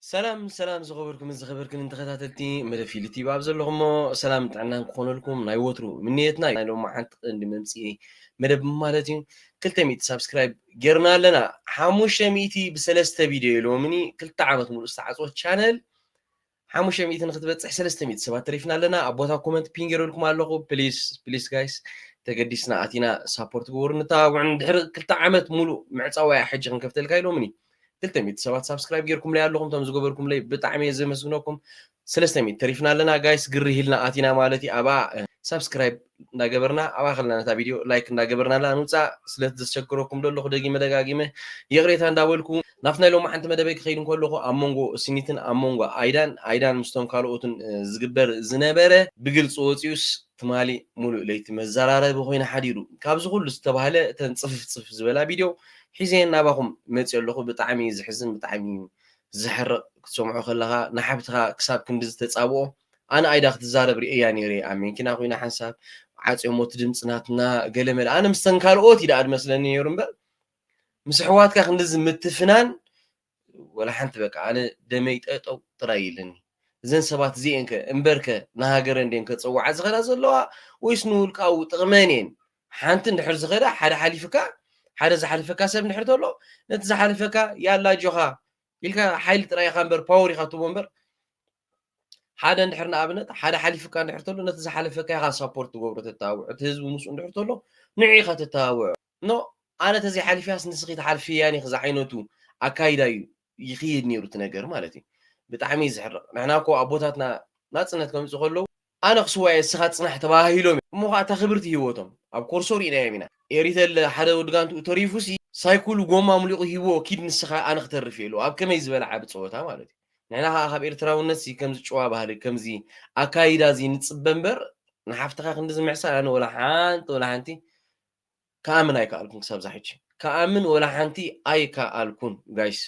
ሰላም ሰላም ዝኸበርኩምን ዝኸበርክንን ተኸታተልቲ መደብ ፊሊ ቲቪ ኣብ ዘለኹሞ ሰላም ጥዕናን ክኾነልኩም ናይ ወትሩ ምንየትና እዩ። ናይ ሎማዓንቲ ቀንዲ መምፅኢ መደብ ማለት እዩ ክልተ ሚእቲ ሳብስክራይብ ጌርና ኣለና ሓሙሽተ ሚእቲ ብሰለስተ ቪድዮ ኢሎምኒ ክልተ ዓመት ሙሉእ ዝተዓፅወ ቻነል ሓሙሽተ ሚእቲ ንክትበፅሕ ሰለስተ ሚእቲ ሰባት ተሪፍና ኣለና ኣብ ቦታ ኮመንት ፒን ጌረልኩም ኣለኹ ፕሊስ ፕሊስ ጋይስ ተገዲስና ኣቲና ሳፖርት ግበሩ ንተባብዑን ድሕሪ ክልተ ዓመት ሙሉእ ምዕፃዋያ ሕጂ ክንከፍተልካ ኢሎምኒ እዩ ክልተ ሚእቲ ሰባት ሳብስክራይብ ጌርኩምለይ ኣለኹም እቶም ዝገበርኩምለይ ብጣዕሚ እየ ዘመስግነኩም ሰለስተ ሚእቲ ተሪፍና ኣለና ጋይስ ግርህ ኢልና ኣቲና ማለት እዩ ኣብኣ ሳብስክራይብ እንዳገበርና ኣብኣ ከለና ነታ ቪድዮ ላይክ እንዳገበርና ኣለና ንውፃእ ስለ ዘስቸግረኩም ዘለኹ ደጊመ ደጋጊመ ይቕሬታ እንዳበልኩ ናብቲ ናይ ሎሚ ሓንቲ መደበይ ክኸይድ እንከለኹ ኣብ መንጎ ስኒትን ኣብ መንጎ ኣይዳን ኣይዳን ምስቶም ካልኦትን ዝግበር ዝነበረ ብግልፂ ወፂኡስ ትማሊ ሙሉእ ለይቲ መዘራረቢ ኮይኑ ሓዲሩ ካብዚ ኩሉ ዝተባህለ እተን ፅፍፍ ፅፍፍ ዝበላ ቪድዮ ሒዘ ናባኹም መጺኤ ኣለኹ ብጣዕሚ እዩ ዝሕዝን ብጣዕሚ እዩ ዘሕርቅ ክትሰምዖ ከለኻ ንሓብትኻ ክሳብ ክንድዚ ተጻብኦ ኣነ ኣይዳ ክትዛረብ ርእየያ ነይረ ኣብ መንኪና ኮይና ሓንሳብ ዓጽዮሞ እቲ ድምጺ ናትና ገለመለ ኣነ ምስተን ካልኦት እዩ ደኣ ዝመስለኒ ነይሩ እምበር ምስ ኣሕዋትካ ክንድዚ ምትፍናን ወላ ሓንቲ በቃ ኣነ ደመይ ጠጠው ጥራይ ኢልኒ እዘን ሰባት እዚኤን ከ እምበርከ ንሃገረን ድየን ከጸውዓ ዝኸዳ ዘለዋ ወይስ ንውልቃዊ ጥቕመን እየን ሓንቲ እንድሕር ዝኸዳ ሓደ ሓሊፍካ ሓደ ዝሓልፈካ ሰብ እንድሕር ተሎ ነቲ ዝሓልፈካ ያላ ጆኻ ኢልካ ሓይሊ ጥራይ ኢኻ እምበር ፓወር ኢኻ ትቦ እምበር ሓደ እንድሕር ንኣብነት ሓደ ሓሊፍካ እንድሕር ተሎ ነቲ ዝሓለፈካ ኢኻ ሳፖርት ትገብሮ ተተባብዖ እቲ ህዝቢ ምስኡ እንድሕር ተሎ ንዑ ኢኻ ተተባብዖ No ኣነ ተዘይ ሓሊፈያስ ንስኺ ትሓልፍያን ኢኺ ዝዓይነቱ ኣካይዳ እዩ ይኽይድ ኔሩ እቲ ነገር ማለት እዩ ብጣዕሚ እዩ ዝሕርቕ ንሕና እኮ ኣቦታትና ናጽነት ከምጽኡ ከለዉ ኣነ ክስዋእ እየ እስኻ ጽናሕ ተባሃሂሎም እዮም እሞ ኸኣ እታ ክብርቲ ሂወቶም ኣብ ኮርሶ ሪእናዮም ኢና ኤሪተለ ሓደ ወዲ ጋንትኡ ተሪፉሲ ሳይኩሉ ጎማ ኣምሊቑ ሂብዎ ኪድ ንስኻ ኣነ ክተርፍ እየ ኢልዎ ኣብ ከመይ ዝበለ ዓቢ ጸወታ ማለት እዩ ንሕና ኸኣ ካብ ኤርትራውነትሲ ከምዚ ጭዋ ባህሊ ከምዚ ኣካይዳ እዚ ንጽበ እምበር ንሓፍትኻ ክንድዚ ምሕሳር ኣነ ወላ ሓንቲ ወላ ሓንቲ ክኣምን ኣይከኣልኩን ክሳብ እዛ ሕጂ ክኣምን ወላ ሓንቲ ኣይከኣልኩን ጋይስ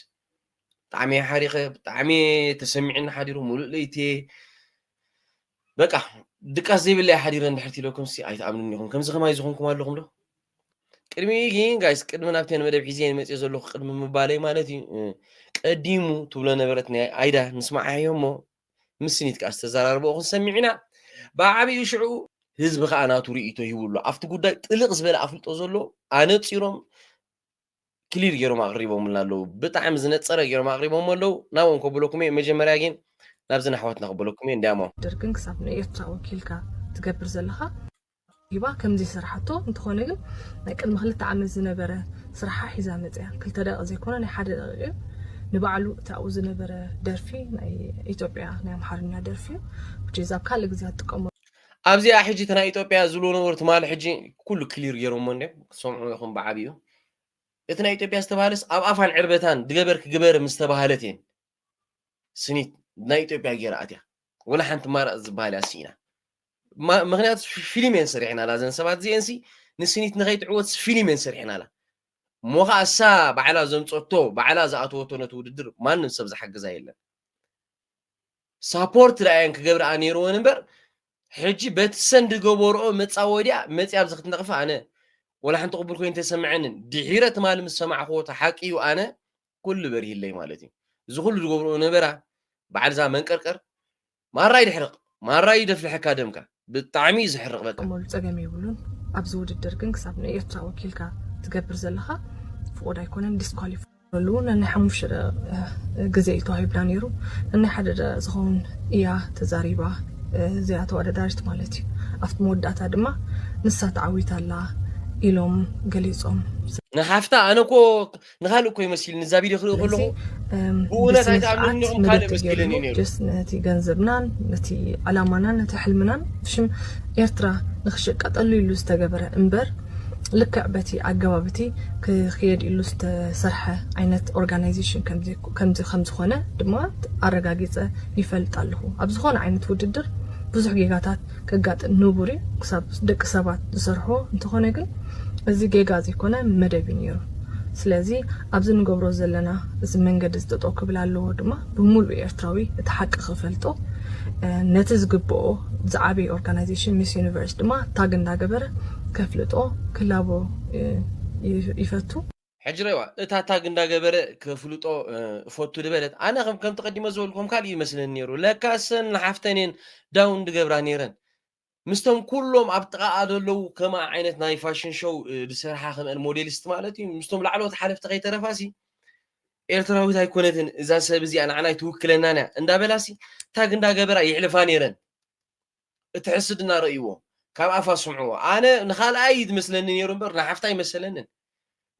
ብጣዕሚ እየ ሓሪኸ ብጣዕሚ እየ ተሰሚዕኒ ሓዲሩ ሙሉእ ለይቲ እየ በቃ ድቃስ ዘይብለይ ሓዲረ እንድሕር ትኢለኩም ሲ ኣይትኣምኑን ኢኹም ከምዚ ከማይ ዝኾንኩም ኣለኹም ዶ ቅድሚ ግን ጋይስ ቅድሚ ናብቲ መደብ ሒዘ መፅእ ዘለኹ ቅድሚ ምባለይ ማለት እዩ ቀዲሙ ትብሎ ነበረት ናይ ኣይዳ ንስማዓዮ እሞ ምስ ስኒት ከኣ ዝተዘራረብኦ ክንሰሚዕ ኢና። ብዓቢኡ ሽዑ ህዝቢ ከኣ ናቱ ርእይቶ ሂቡ ኣሎ። ኣብቲ ጉዳይ ጥልቕ ዝበለ ኣፍልጦ ዘሎ ኣነጺሮም ክሊር ገይሮም ኣቕሪቦምልና ኣለዉ። ብጣዕሚ ዝነጸረ ገይሮም ኣቕሪቦሞ ኣለዉ። ናብኦም ከብለኩም እየ። መጀመርያ ግን ናብዘን ኣሕዋትና ከብለኩም እየ። እንድያሞ። ደርግን ክሳብ ንኤርትራ ወኪልካ ትገብር ዘለኻ። ሂባ ከም ዘይሰርሓቶ እንተኾነ ግን ናይ ቅድሚ ክልተ ዓመት ዝነበረ ስራሓ ሒዛ መጽያ ክልተ ደቂቅ ዘይኮነ ናይ ሓደ ደቂቅ እዩ ንባዕሉ እቲ ኣብኡ ዝነበረ ደርፊ ናይ ኢትዮጵያ ናይ ኣምሓርኛ ደርፊ እዩ which is ኣብ ካልእ ግዜ ኣትጥቀመሉ ኣብዚኣ ሕጂ እቲ ናይ ኢትዮጵያ ዝብልዎ ነበሩ ትማሊ ሕጂ ኩሉ ክሊር ገይሮሞ እንድዮም ክትሰምዑ ኢኹም ብዓቢኡ እቲ ናይ ኢትዮጵያ ዝተባሃለስ ኣብ ኣፋን ዕርበታን ድገበር ክግበር ምስ ተባሃለት እየን ስኒት ናይ ኢትዮጵያ ገይራ ኣትያ ወላ ሓንቲ ማረፅ ዝበሃል እያ ስኢና ምክንያቱ ፊልም እየን ሰሪሕናላ እዘን ሰባት እዚኤን ሲ ንስኒት ንከይትዕወት ፊልም እየን ሰሪሕናላ እሞ ከዓ እሳ ባዕላ ዘምፀቶ ባዕላ ዝኣተወቶ ነቲ ውድድር ማንም ሰብ ዝሓግዛ የለን ሳፖርት ዳኣየን ክገብርኣ ነይርወን እምበር ሕጂ በቲ ሰን ዝገበርኦ መፃወዲያ መፅያ ኣብዚ ክትነቕፋ ኣነ ወላ ሓንቲ ቅቡል ኮይኑ ተሰምዐንን ድሒረ ትማሊ ምስ ሰማዕክዎ እቲ ሓቂ እዩ ኣነ ኩሉ በሪህለይ ማለት እዩ እዚ ኩሉ ዝገብርኦ ነበራ በዓል እዛ መንቀርቀር ማራ ይድሕርቕ ማራ ይደፍልሐካ ደምካ ብጣዕሚ እዩ ዝሕርቕ በቃ ክጥቀመሉ ጸገም የብሉን ኣብዚ ውድድር ግን ክሳብ ንኤርትራ ወኪልካ ትገብር ዘለኻ ፍቑድ ኣይኮነን ዲስኳሊፍ ሉ ነናይ ሓሙሽተ ደቂቕ ግዜ እዩ ተዋሂብና ነይሩ ነናይ ሓደ ደቂቕ ዝኸውን እያ ተዛሪባ እዚኣ ተወዳዳሪት ማለት እዩ ኣብቲ መወዳእታ ድማ ንሳ ተዓዊታ ኣላ ኢሎም ገሊጾም ንሓፍታ ኣነ እኮ ንካልእ ኮይ መሲልኒ እዛ ቪድዮ ክርኢ ከለኹ ብእውነት ኣይትኣምኑን ኢኹም ካልእ መሲልኒ ነይሩ ነቲ ገንዘብናን ነቲ ዕላማናን ነቲ ሕልምናን ሽም ኤርትራ ንክሽቀጠሉ ኢሉ ዝተገበረ እምበር ልክዕ በቲ ኣገባብ እቲ ክክየድ ኢሉ ዝተሰርሐ ዓይነት ኦርጋናይዜሽን ከም ዝኾነ ድማ ኣረጋጊፀ ይፈልጥ ኣለኹ ኣብ ዝኾነ ዓይነት ውድድር ብዙሕ ጌጋታት ከጋጥም ንቡር እዩ ክሳብ ደቂ ሰባት ዝሰርሕዎ እንተኾነ ግን እዚ ጌጋ ዘይኮነ መደብ እዩ ኔሩ ስለዚ ኣብዚ ንገብሮ ዘለና እዚ መንገዲ እዚ ጠጠው ክብል ኣለዎ ድማ ብምሉእ ኤርትራዊ እቲ ሓቂ ክፈልጦ ነቲ ዝግብኦ ዝዓበየ ኦርጋናይዜሽን ሚስ ዩኒቨርስ ድማ ታግ እንዳገበረ ከፍልጦ ክላቦ ይፈቱ ሕጂ ርእይዋ እታ ታግ እንዳገበረ ከፍልጦ እፈቱ ድበለት ኣነ ከም ከምቲ ቀዲመ ዝበልኩ ከም ካልእ ይመስለኒ ነይሩ ለካ እሰን ንሓፍተን እየን ዳውን ድገብራ ነይረን ምስተም ኩሎም ኣብ ጥቓኣ ዘለዉ ከምኣ ዓይነት ናይ ፋሽን ሾው ዝሰርሓ ከምአን ሞዴሊስት ማለት እዩ ምስቶም ላዕለዎት ሓለፍቲ ከይተረፋሲ ኤርትራዊት ኣይኮነትን እዛ ሰብ እዚኣ ንዓና ኣይትውክለናን እያ እንዳበላሲ ታግ እንዳገበራ ይሕልፋ ነይረን እቲ ሕስድና ረእይዎ ካብ ኣፋ ስምዕዎ ኣነ ንካልኣ እዩ ዝመስለኒ ነይሩ እምበር ንሓፍታ ኣይመሰለንን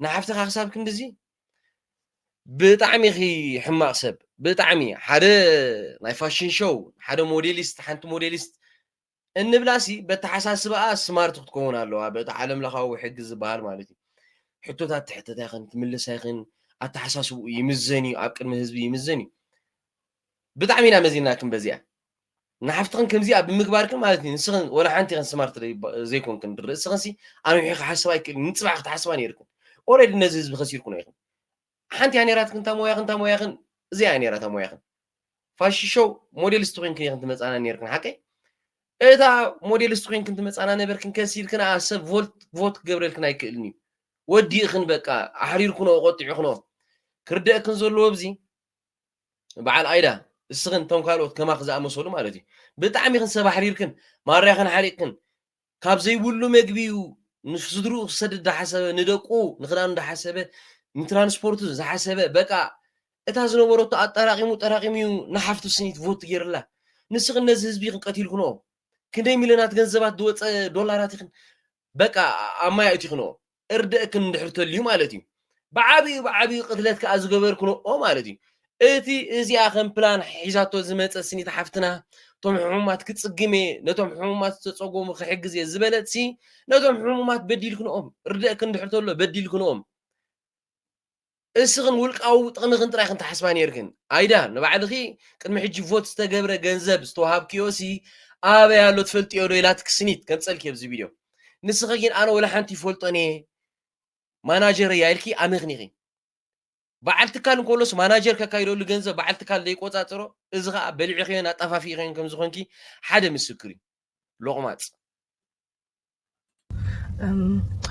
ንሓፍትኻ ክሳብ ክንድዚ ብጣዕሚ ኺ ሕማቕ ሰብ ብጣዕሚ ሓደ ናይ ፋሽን ሾው ሓደ ሞዴሊስት ሓንቲ ሞዴሊስት እንብላሲ በተሓሳስባኣ ስማርት ክትከውን ኣለዋ በቲ ዓለም ለኻዊ ሕጊ ዝበሃል ማለት እዩ ሕቶታት ትሕተት ኣይኽን ትምልስ ኣይኽን ኣተሓሳስብኡ ይምዘን እዩ ኣብ ቅድሚ ህዝቢ ይምዘን እዩ ብጣዕሚ ኢና መዚንናክን በዚኣ ንሓፍትኽን ከምዚኣ ብምግባርክን ማለት እዩ ንስኽን ወላ ሓንቲ ኢኽን ስማርት ዘይኮንክን ርእስኽን ሲ ኣንውሒ ክሓስባ ኣይክእልን ንፅባሕ ክትሓስባ ነይርክን ኦረዲ ነዚ ህዝቢ ከሲርኩኖ ኢኽን ሓንቲ እያ ነይራትክን እታ ሞያኽን እታ ሞያኽን እዚኣ እያ ነይራ እታ ሞያኽን ፋሽን ሾው ሞዴልስቲ ኮይንክን ኢኽን ትመፃና ነይርክን ሓቀይ እታ ሞዴልስቲ ኮይንክን ትመፃና ነበርክን ከሲርክን ኣ ሰብ ቮልት ቮት ክገብረልክን ኣይክእልን እዩ ወዲእኽን በቃ ኣሕሪርኩኖ ቆጢዑክኖ ክርደእክን ዘለዎ ብዚ በዓል ኣይዳ እስኽን እቶም ካልኦት ከማኺ ዝኣመሰሉ ማለት እዩ ብጣዕሚ ኢኽን ሰብ ኣሕሪርክን ማርያኽን ሓሪቕክን ካብ ዘይብሉ መግቢ እዩ ንስድርኡ ክሰድድ እንዳሓሰበ ንደቁ ንክዳኑ እንዳሓሰበ ንትራንስፖርቱ ዝሓሰበ በቃ እታ ዝነበረቶ ኣጠራቂሙ ጠራቂሙ እዩ ንሓፍቱ ስኒት ቮት ገይርላ ንስኽን ነዚ ህዝቢ ኢኽን ቀቲልክንኦ ክንደይ ሚልዮናት ገንዘባት ዝወፀ ዶላራት ኢኽን በቃ ኣብ ማይ ኣእቲኽንኦ እርደእክን እንድሕር ተልዩ ማለት እዩ ብዓብኡ ብዓብኡ ቅትለት ከኣ ዝገበርክንኦ ማለት እዩ እቲ እዚኣ ከም ፕላን ሒዛቶ ዝመፀ ስኒት ሓፍትና እቶም ሕሙማት ክፅግም እየ ነቶም ሕሙማት ዝተፀጎሙ ክሕግዝ እየ ዝበለት ሲ ነቶም ሕሙማት በዲልክንኦም እርደእክን እንድሕር ተሎ በዲልክንኦም እስኽን ውልቃዊ ጥቕምኽን ጥራይ ኢኽን ትሓስባ ኔርክን። ኣይዳ ንባዕልኺ ቅድሚ ሕጂ ቮት ዝተገብረ ገንዘብ ዝተዋሃብክዮሲ ኣበይ ኣሎ ትፈልጥዮዶ ኢላትኪ ስኒት ከምጸልኪ ኣብዚ ቪድዮ። ንስኺ ግን ኣነ ወላ ሓንቲ ይፈልጦን እየ ማናጀረይ እያ ኢልኪ ኣመኽኒኺ። በዓል ትካል እንከሎስ ማናጀር ከካይደሉ ገንዘብ በዓል ትካል ዘይቆጻጽሮ እዚ ከዓ በሊዕኽዮን ኣጠፋፊእኽዮን ከም ዝኾንኪ ሓደ ምስክር እዩ። ሎቕማጽ።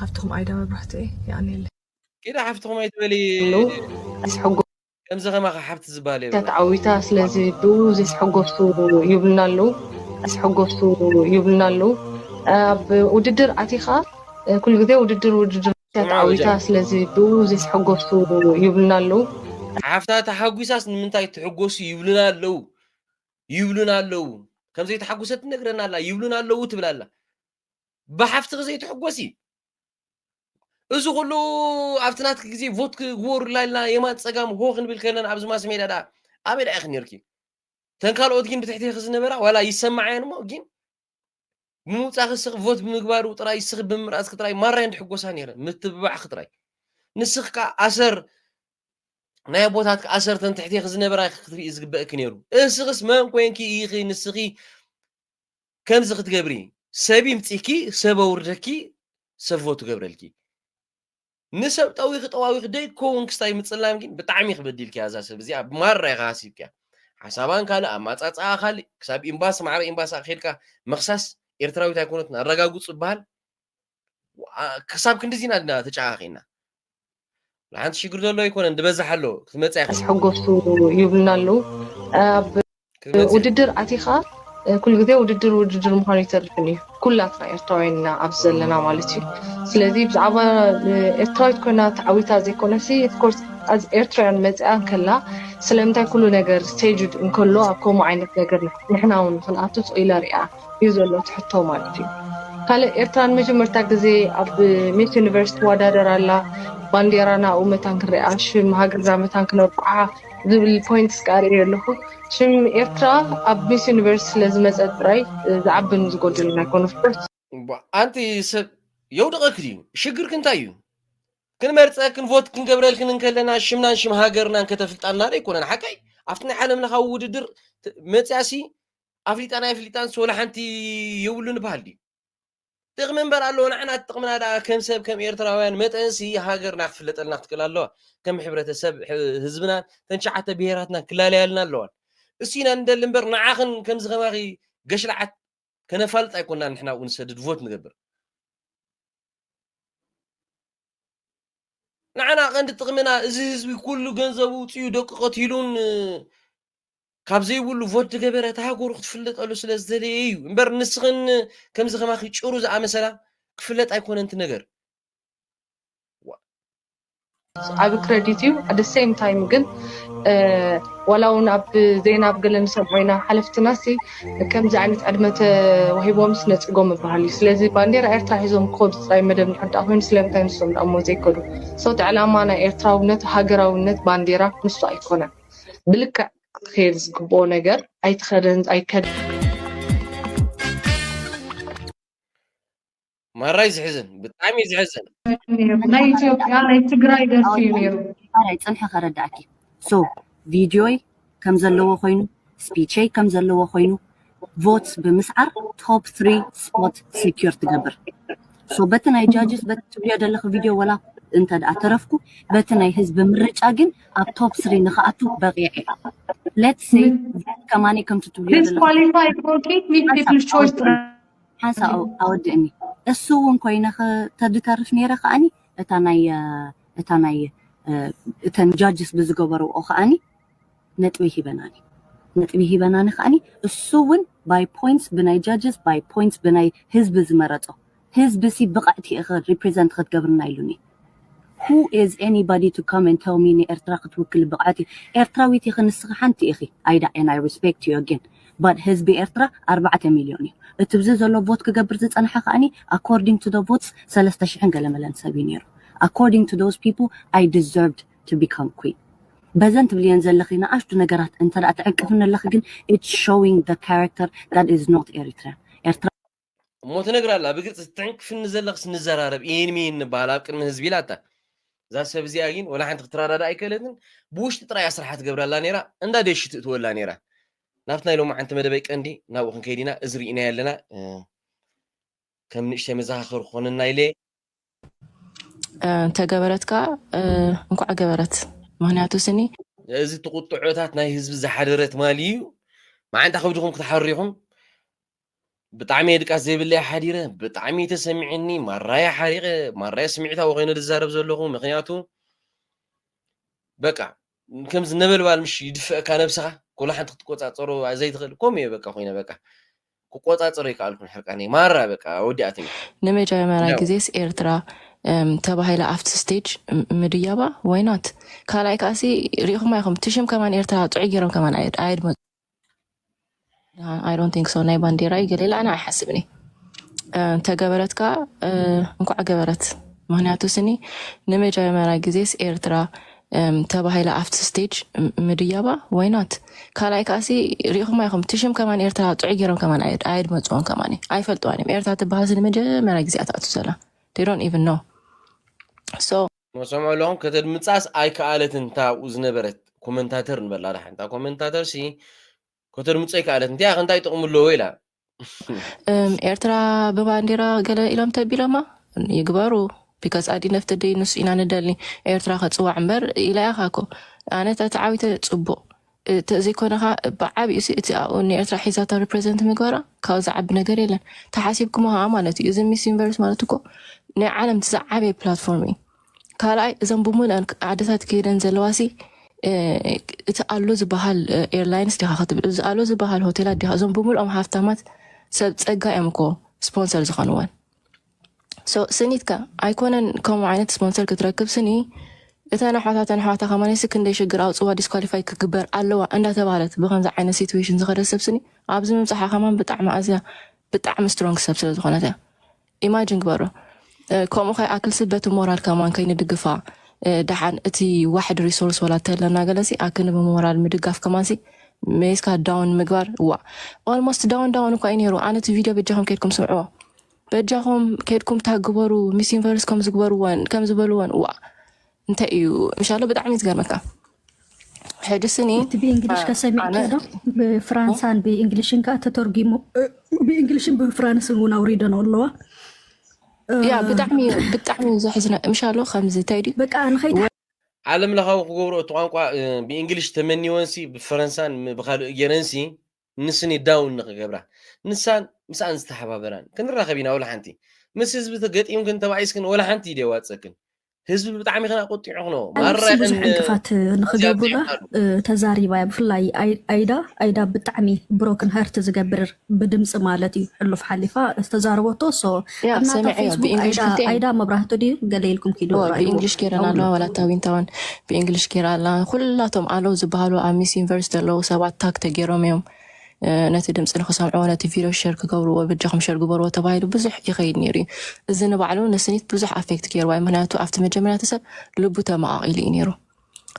ሓፍትኹም ኣይዳ መብራህቲ እየ የቀንየለይ ኪዳ ሓፍትኹም ኣይትበሊ ሎ ኣስሐጎ ከምዚ ከማኻ ሓብቲ ዝበሃል እታ የብላን ተዓዊታ ስለዚ ብኡ ዘስሐጎሱ ይብሉና ኣለዉ ኣስሐጎሱ ይብሉና ኣለዉ ኣብ ውድድር ኣቲኻ እ፣ ኩሉ ግዜ ውድድር ውድድር እታ ስምዓ ተዓዊታ ወጃዕ ስለዚ ብኡ ዘስሐጎሱ ይብሉና ኣለዉ ሓፍታ ተሓጒሳስ ንምንታይ ትሕጎሱ ይብሉና ኣለዉ ይብሉና ኣለዉ ከም ዘይተሓጎሰት ትነግረና ኣላ ይብሉና ኣለዉ ትብል ኣላ ብሓፍትኺ ዘይትሕጎሲ እዚ ኩሉ ኣብቲ ናትኪ ግዜ ቮት ክግበሩላ ኢልና የማን ፀጋም ሆ ክንብል ከለና ኣብዚ ማስ ሜዳ ደኣ ኣበይ ደኣ ኢኺ ነርኪ እተን ካልኦት ግን ብትሕቲኺ ዝነበራ ዋላ ይሰማዓየን እሞ ግን ብምውጻኺ ስኺ ቮት ብምግባሩ ጥራይ ስኺ ብምምራጽኪ ጥራይ ማራይ ንድሕጎሳ ነይረ ምትብባዕኺ ጥራይ ንስኺ ከዓ ኣሰር ናይ ኣቦታትኪ ኣሰር ተን ትሕቴኺ ዝነበራ ኢኺ ክትርኢ ዝግበእኪ ነይሩ እስኽስ መን ኮንኪ ኢኺ ንስኺ ከምዚ ክትገብሪ ሰብ ይምፂኪ ሰብ ኣውርደኪ ሰብ ቮት ትገብረልኪ ንሰብ ጠዊኺ ጠዋዊኺ ደይኮውን ክስታይ ምጽላም ግን ብጣዕሚ ኢኺ በዲልክያ እዛ ሰብ እዚኣ ማራ ኢኻ ሃሲብክያ ሓሳባን ካልእ ኣማጻጽኣ ካልእ ክሳብ ኢምባሲ ማዕረ ኢምባሲ ኣኺድካ ምኽሳስ ኤርትራዊት ኣይኮነትን ኣረጋግጹ ዝበሃል ክሳብ ክንድዚ ኢና ድና ተጨካኺና ንሓንቲ ሽግር ዘሎ ኣይኮነን ዝበዝሕ ኣሎ ክትመጽእ ኣስሐጎሱ ይብልና ኣለዉ ውድድር ኣቲኻ ኩሉ ግዜ ውድድር ውድድር ምዃኑ ይተርፍን እዩ ኩላትና ኤርትራውያን ኢና ኣብዚ ዘለና ማለት እዩ ስለዚ ብዛዕባ ኤርትራዊት ኮይና ተዓዊታ ዘይኮነሲ ኮርስ ኣዝ ኤርትራውያን መፅኣ ከላ ስለምንታይ ኩሉ ነገር ስቴጅድ እንከሎ ኣብ ከምኡ ዓይነት ነገር ንሕና እውን ክንኣቱ ፅኢላ ሪኣ እዩ ዘሎ ትሕቶ ማለት እዩ ካልእ ኤርትራ ንመጀመርታ ግዜ ኣብ ሚስ ዩኒቨርስ ትወዳደር ኣላ ባንዴራና ኣብኡ መታን ክንሪኣ ሽም ሃገርና መታን ክነብቅዓ ዝብል ፖይንት ስቃ ርእዮ ኣለኹ ሽም ኤርትራ ኣብ ሚስ ዩኒቨርስ ስለ ዝመፀ ጥራይ ዝዓብን ዝጎድልን ኣይኮነ ፍርት ኣንቲ ሰብ የውድቐኪ ድዩ ሽግርኪ እንታይ እዩ ክንመርፀክን ቮት ክንገብረልክን እንከለና ሽምናን ሽም ሃገርናን ከተፍልጣና ዶ ኣይኮነን ሓቀይ ኣብቲ ናይ ዓለም ለኻዊ ውድድር ት- መፅያሲ ኣፍሊጣን ኣይፍሊጣን ሶላ ሓንቲ የብሉን ይበሃል ድዩ ጥቅሚ እምበር ኣለዎ ንዓና ጥቅምና ደኣ ከም ሰብ ከም ኤርትራውያን መጠንሲ ሃገርና ክፍለጠልና ክትክእል ኣለዋ ከም ሕብረተሰብ ህዝብና ተን ሸዓተ ብሄራትና ክላለያልና ኣለዋን እሱ ኢና ንደሊ እምበር ንዓኽን ከምዚ ከማኺ ገሽላዓት ከነፋልጥ ኣይኮናን ንሕና ኣብኡ ንሰድድ ቮት ንገብር ንዓና ቀንዲ ጥቅምና እዚ ህዝቢ ኩሉ ገንዘቡ ውፅኡ ደቁ ቀቲሉን ካብ ዘይብሉ ቮት ዝገበረት ሃገሩ ክትፍለጠሉ ስለ ዝተለየ እዩ እምበር ንስኽን ከምዚ ከማኺ ጭሩ ዝኣመሰላ ክፍለጥ ኣይኮነን እቲ ነገር ዓቢ ክረዲት እዩ ኣደ ሴም ታይም ግን ዋላ እውን ኣብ ዜና ኣብ ገለ ንሰምዖ ኢና ሓለፍትና ሲ ከምዚ ዓይነት ዕድመ ተዋሂቦም ስነፅጎም ይበሃል እዩ ስለዚ ባንዴራ ኤርትራ ሒዞም ክኸዱ ጥራይ መደብ ንሕዳ ኮይኑ ስለምንታይ ንሶም ንኣሞ ዘይከዱ ሰውቲ ዕላማ ናይ ኤርትራውነት ሃገራውነት ባንዴራ ንሱ ኣይኮነን ብልክዕ ክትከየድ ዝግብኦ ነገር ኣይትኸደን ኣይከደ ማራይ ዝሕዝን ብጣዕሚ ዝሕዝን ናይ ኢትዮጵያ ናይ ትግራይ ደርፊ እዩ ነይሩ ማራይ ፅንሒ ከረዳእኪ ሶ ቪድዮይ ከም ዘለዎ ኮይኑ ስፒቸይ ከም ዘለዎ ኮይኑ ቮትስ ብምስዓር ቶፕ ትሪ ስፖት ሴኪር ትገብር ሶ በቲ ናይ ጃጅስ በቲ ትብልዮ ዘለኺ ቪድዮ ወላ እንተ ደኣ ተረፍኩ በቲ ናይ ህዝቢ ምርጫ ግን ኣብ ቶፕ ስሪ ንኽኣቱ በቂዐ ሌትስ ሴይ ከማኒ ከምቲ ትብልዮ ሓንሳ ኣወድእኒ እሱ እውን ኮይነ ተድተርፍ ነይረ ከዓኒ እታ ናይ እታ ናይ እተን ጃጅስ ብዝገበርኦ ከዓኒ ነጥቢ ሂበናኒ ነጥቢ ሂበናኒ ከኣኒ እሱ ውን ባይ ፖይንትስ ብናይ ጃጅስ ባይ ፖይንትስ ብናይ ህዝቢ ዝመረጾ ህዝቢ ሲ ብቕዕቲ ኢኺ ሪፕሪዘንት ክትገብርና ኢሉኒ who is anybody to come and tell me ንኤርትራ ክትውክሊ ብቕዕት እዩ ኤርትራዊት ኢኺ ንስኺ ሓንቲ ኢኺ ኣይዳ and I respect you again but ህዝቢ ኤርትራ ኣርባዕተ ሚልዮን እዩ እቲ ብዚ ዘሎ ቮት ክገብር ዝጸንሐ ከኣኒ according to the votes ሰለስተ ሽሕን ገለመለን ሰብ እዩ ነይሩ according to those people I deserved to become queen በዘን ትብልየን ዘለኺ ንኣሽቱ ነገራት እንተ ትዕቅፍኒ ኣለኺ ግን it's showing the character that is not Eritrean ኤርትራ እሞ ትነግራ ኣላ ብግልፂ ትዕንቅፍኒ ዘለኽስ ንዘራረብ ኢን ሚን ንበሃል ኣብ ቅድሚ ህዝቢ ኢላታ እዛ ሰብ እዚኣ ግን ወላ ሓንቲ ክትረዳዳ ኣይከለትን ብውሽጢ ጥራይ ኣስራሓ ትገብራላ ነይራ እንዳ ደሽ ትእትወላ ነይራ ናብቲ ናይ ሎሚ ዓንቲ መደበይ ቀንዲ ናብኡ ክንከይድ ኢና እዚ ርኢናዮ ኣለና ከም ንእሽተይ መዘኻኸሪ ክኾነና ኢለ ተገበረት ከዓ እንኳዕ ገበረት ምክንያቱ ስኒ እዚ እቲ ቁጥዖታት ናይ ህዝቢ ዝሓደረ ትማሊ እዩ መዓንታ ከብድኹም ክትሓሪኹም ብጣዕሚ እየ ድቃስ ዘይብለይ ሓዲረ ብጣዕሚ ተሰሚዕኒ ማራያ ሓሪቀ ማራያ ስምዒታዊ ኮይነ ዝዛረብ ዘለኹ ምክንያቱ በቃ ከምዚ ነበልባል ምሽ ይድፍአካ ነብስኻ ኩሉ ሓንቲ ክትቆፃፀሮ ዘይትኽእል ከምኡ እየ በቃ ኮይነ በቃ ክቆጻጸሮ ኣይከኣልኩን ሕርቃነይ ማራ በቃ ወዲኣትኒ። ንመጀመርያ ግዜስ ኤርትራ ተባሂላ ኣብቲ ስቴጅ ምድያባ ዋይ ኖት ካልኣይ ከኣሲ ሪኢኹማ ኢኹም እቲ ሽም ከማን ኤርትራ ጥዑይ ገይሮም ከማን ኣየድመ ኣይ ዶንት ቲንክ ሶ ናይ ባንዴራ እዩ ገሌላ ኣነ ኣይሓስብን እዩ ተገበረት ከዓ እንኳዕ ገበረት ምክንያቱ ስኒ ንመጀመርያ ግዜስ ኤርትራ እም ተባሂላ ኣብቲ ስቴጅ እም ምድያባ ዋይ ኖት ካልኣይ ከኣሲ ርኢኹማ ኢኹም እቲ ሽም ከማን ኤርትራ ጥዑይ ገይሮም ከማን ኣየድ- ኣየድመፅዎን ከማን እዩ። ኣይፈልጥዋን እዮም ኤርትራ ትበሃልሲ ንመጀመርያ ግዜ እያ ትኣቱ ዘላ they don't even know so ን ሰምዑ ኣለኹም ከተድምጻስ ኣይከኣለትን እታ ኣብኡ ዝነበረት ኮመንታተር ንበላ ድሓን እታ ኮመንታተርሲ ከተድምጾ ኣይከኣለትን እንቲኣ ከ እንታይ ጥቕሚ ኣለዎ ኢላ። እም ኤርትራ ብባንዴራ ገለ ኢሎም ተቢሎማ ይግበሩ ቢካዝ ኣዲ ነፍቲ ደይ ንሱ ኢና ንደሊ ኤርትራ ከጽዋዕ እምበር ኢላ ኢኻ እኮ ኣነ ተተዓዊተ ጽቡቕ ተዘይኮነኻ ብዓቢኡ ሲ እቲ ኣብኡ ንኤርትራ ሒዛታ ሪፕሬዘንት ምግባራ ካብኡ ዝዓቢ ነገር የለን ተሓሲብኩሞ ኸኣ ማለት እዩ እዚ ሚስ ዩኒቨርስ ማለት እኮ ናይ ዓለም እቲ ዝዓበየ ፕላትፎርም እዩ ካልኣይ እዘን ብምልኣን ዓድታት ከይደን ዘለዋሲ እቲ ኣሎ ዝበሃል ኤርላይንስ ዲኻ ክትብል እዚ ኣሎ ዝበሃል ሆቴላት ዲኻ እዞም ብምልኦም ሃፍታማት ሰብ ፀጋ እዮም እኮ ስፖንሰር ዝኾንወን ሶ ስኒትካ ኣይኮነን ከምኡ ዓይነት ስፖንሰር ክትረክብ ስኒ እተን ኣሕዋታ እተን ኣሕዋታ ከማነሲ ክንደይ ሽግር ኣውፅዋ ዲስኳሊፋይ ክግበር ኣለዋ እንዳተባህለት ብከምዚ ዓይነት ሲትዌሽን ዝኸደት ሰብ ስኒ ኣብዚ ምብፃሓ ከማን ብጣዕሚ ኣዝያ ብጣዕሚ ስትሮንግ ሰብ ስለዝኾነት እያ ኢማጅን ግበሮ ከምኡ ከይኣክልሲ በቲ ሞራል ከማን ከይንድግፋ ደሓን እቲ ዋሕድ ሪሶርስ ወላ ተለና ገለሲ ኣክን ብሞራል ምድጋፍ ከማንሲ ሜስካ ዳውን ምግባር ዋ ኦልሞስት ዳውን ዳውን እኳ እዩ ነይሩ ኣነ እቲ ቪድዮ በጃኹም ከድኩም ስምዕዎ በጃኹም ከድኩም ታግበሩ ሚስ ዩኒቨርስ ከም ዝግበርወን ከም ዝበልወን ዋ እንታይ እዩ ምሻሎ ብጣዕሚ እዩ ዝገርመካ ሕጂ ስኒ እቲ ብእንግሊሽ ከሰሚዕከ ዶ ብፍራንሳን ብእንግሊሽን ከዓ ተተርጊሙ ብእንግሊሽን ብፍራንስን እውን ኣውሪደን ኣለዋ ያ ብጣዕሚ እዩ ብጣዕሚ እዩ ዘሕዝነ ምሻሎ ከምዚ እንታይ ድዩ በቃ ንኸይት ዓለም ለኻዊ ክገብሮ እቲ ቋንቋ እ፣ ብእንግሊሽ ተመኒወንሲ ብፈረንሳን ም- ብካልእ ገይረንሲ ንስኒ ዳውን ንኽገብራ ንሳን ምስኣን ዝተሓባበራን ክንራኸብ ኢና ወላ ሓንቲ ምስ ህዝቢ ተገጢምክን ተባኢስክን ወላ ሓንቲ ኢድ የዋፅእክን ህዝቢ ብጣዕሚ ክና ቆጢዑ ክነዎ ማራ ብዙሕ ዕንቅፋት ንኽገብሩላ ተዛሪባ እያ ብፍላይ ኣይዳ ኣይዳ ብጣዕሚ ብሮክን ሀርት ዝገብርር ብድምፂ ማለት እዩ ሕሉፍ ሓሊፋ ዝተዛረበቶ ሶ ያ እናታ ሰሚዐዮ ፌስቡክ ብእንግሊሽ ኣይዳ ክልቲኤን ኣይዳ መብራህቱ ድዩ ገለ ኢልኩም ኪዱ እወ ርኣይዎ ብእንግሊሽ ጌረን ኣለዋ ደውሉሉ ዋላ እታ ዊንታውን ብእንግሊሽ ጌራ ኣላ ኩላቶም ኣለዉ ዝበሃሉ ኣብ ሚስ ዩኒቨርስ ዘለዉ ሰባት ታግ ተገይሮም እዮም እ፣ ነቲ ድምፂ ንክሰምዕዎ ነቲ ቪድዮ ሸር ክገብርዎ በጃኹም ሸር ግበርዎ ተባሂሉ ብዙሕ ይኸይድ ነይሩ እዩ እዚ ንባዕሉ ንስኒት ብዙሕ ኣፌክት ገይርዋ እዩ ምክንያቱ ኣብቲ መጀመርያ እቲ ሰብ ልቡ ተመቓቒሉ እዩ ነይሩ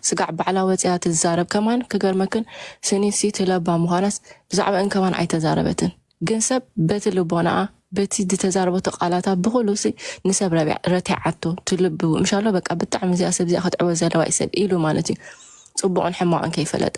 ስጋዕ ባዕላ ወጺኣ ትዛረብ ከማን ክገርመክን ስኒት ሲ ትለባ ምኳናስ ብዛዕበእን ከማን ኣይተዛረበትን ግን ሰብ በቲ ልቦናኣ በቲ ድተዛረበቶ ቃላታ ብኩሉ ሲ ንሰብ ረቲዓቶ ትልብ ምሻሎ በቃ ብጣዕሚ እዚኣ ሰብ እዚኣ ከትዕወት ዘለዋ እዩ ሰብ ኢሉ ማለት እዩ ጽቡቅን ሕማቅን ከይፈለጠ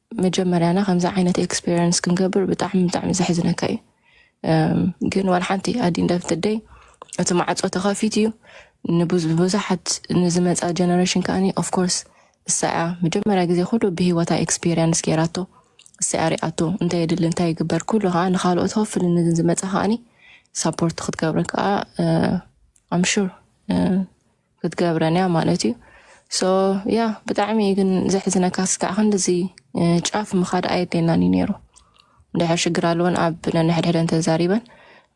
መጀመርያና ከምዚ ዓይነት ኤክስፔሪንስ ክንገብር ብጣዕሚ ብጣዕሚ ዘሕዝነካ እዩ ግን ዋላ ሓንቲ ኣዲ እንዳፍትደይ እቲ ማዕፆ ተኸፊት እዩ ንብዙሓት ንዝመፃ ጀነሬሽን ከዓኒ ኦፍኮርስ እሳያ መጀመርያ ግዜ ኩሉ ብሂወታ ኤክስፔሪንስ ገይራቶ እሳያ ሪኣቶ እንታይ የድሊ እንታይ ይግበር ኩሉ ከዓ ንካልኦት ሆፍሊ ንዝመፃ ከዓኒ ሳፖርት ክትገብረ ከዓ ኣምሹር ክትገብረን እያ ማለት እዩ ሶ ያ ብጣዕሚ እዩ ግን ዘሕዝነካ ስካዕ ክንድዚ ጫፍ ምኻድ ኣየድልየናን እዩ ነይሩ ድሕር ሽግር ኣለወን ኣብ ነንሕድሕደን ተዛሪበን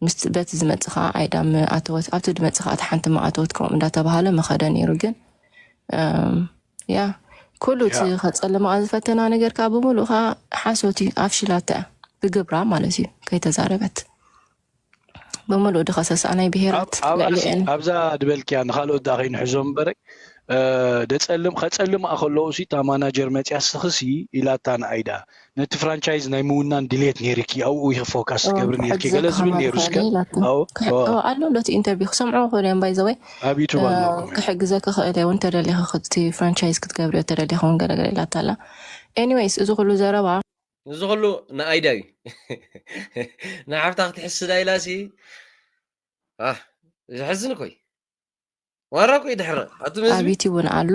ምስ በቲ ዝመፅ ከዓ ዓይዳ ኣተወት ኣብቲ ድመፅ ከዓ እቲ ሓንቲ ማኣተወት ከምኡ እንዳተባሃለ መኸደ ነይሩ ግን ያ ኩሉ እቲ ያ ከፀልማ ዝፈተና ነገር ከዓ ብምሉእ ከዓ ሓሶት እዩ ኣፍሽላታ እያ ብግብራ ማለት እዩ ከይተዛረበት ብምሉኡ ድኸሰሳ ናይ ብሄራት ልዕሊኤን ኣብዛ ድበልክያ ንካልኦት ዳ ከይንሕዞም በረ ደፀልም ከፀልም ከለዉ ሲ እታ ማናጀር መፅያ ስኽሲ ኢላታ ንኣይዳ ነቲ ፍራንቻይዝ ናይ ምውናን ድሌት ነይርኪ ኣብኡ ኢኺ ፎካስ ትገብሪ ነርኪ ገለ ዝብል ነይሩ ስከ ኣሎ ሎቲ ኢንተርቪው ክሰምዑ ክእሉ እዮም ባይዘወይ ኣብ ዩቱብ ኣለኩም ክሕግዘ ክኽእል እውን ተደሊኺ ፍራንቻይዝ ክትገብሪ ተደሊኺ እውን ገለገለ ኢላታ ኣላ ኤኒዌይስ እዚ ኩሉ ዘረባ እዚ ኩሉ ንኣይዳ እዩ ንሓፍታ ክትሕስዳ ኢላ ሲ ዘሕዝን ኮይ ዋራ ኮይ ድሕረ ኣቱም ህዝቢ ኣብይቲ እውን ኣሎ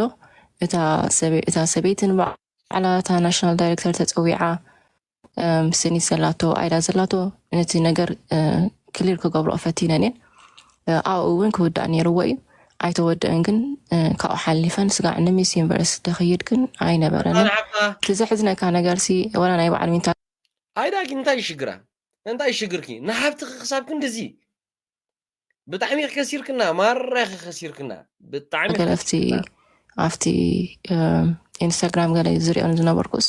እታ ሰበ- እታ ሰበይቲ ንባዕላ እታ ናሽናል ዳይሬክተር ተፀዊዓ እም፣ ስኒት ዘላቶ ኣይዳ ዘላቶ ነቲ ነገር ክሊር ክገብርኦ ፈቲነን እየን ኣብኡ እውን ክውዳእ ነይርዎ እዩ ኣይተወደእን ግን ካብኡ ሓሊፈን ስጋዕ ንሚስ ዩኒቨርስ ደክይድ ግን ኣይነበረንን እቲ ዘሕዝነካ ነገርሲ ወላ ናይ በዓል ዊንታ ኣይዳኪ እንታይ ሽግራ እንታይ ሽግርኪ ንሓብትኪ ክሳብ ክንድዚ ብጣዕሚ ከሲርክና ማራኺ ከሲርክና ብጣዕሚ ገለፍቲ ኣብቲ ኢንስታግራም ገለ ዝሪኦን ዝነበርኩስ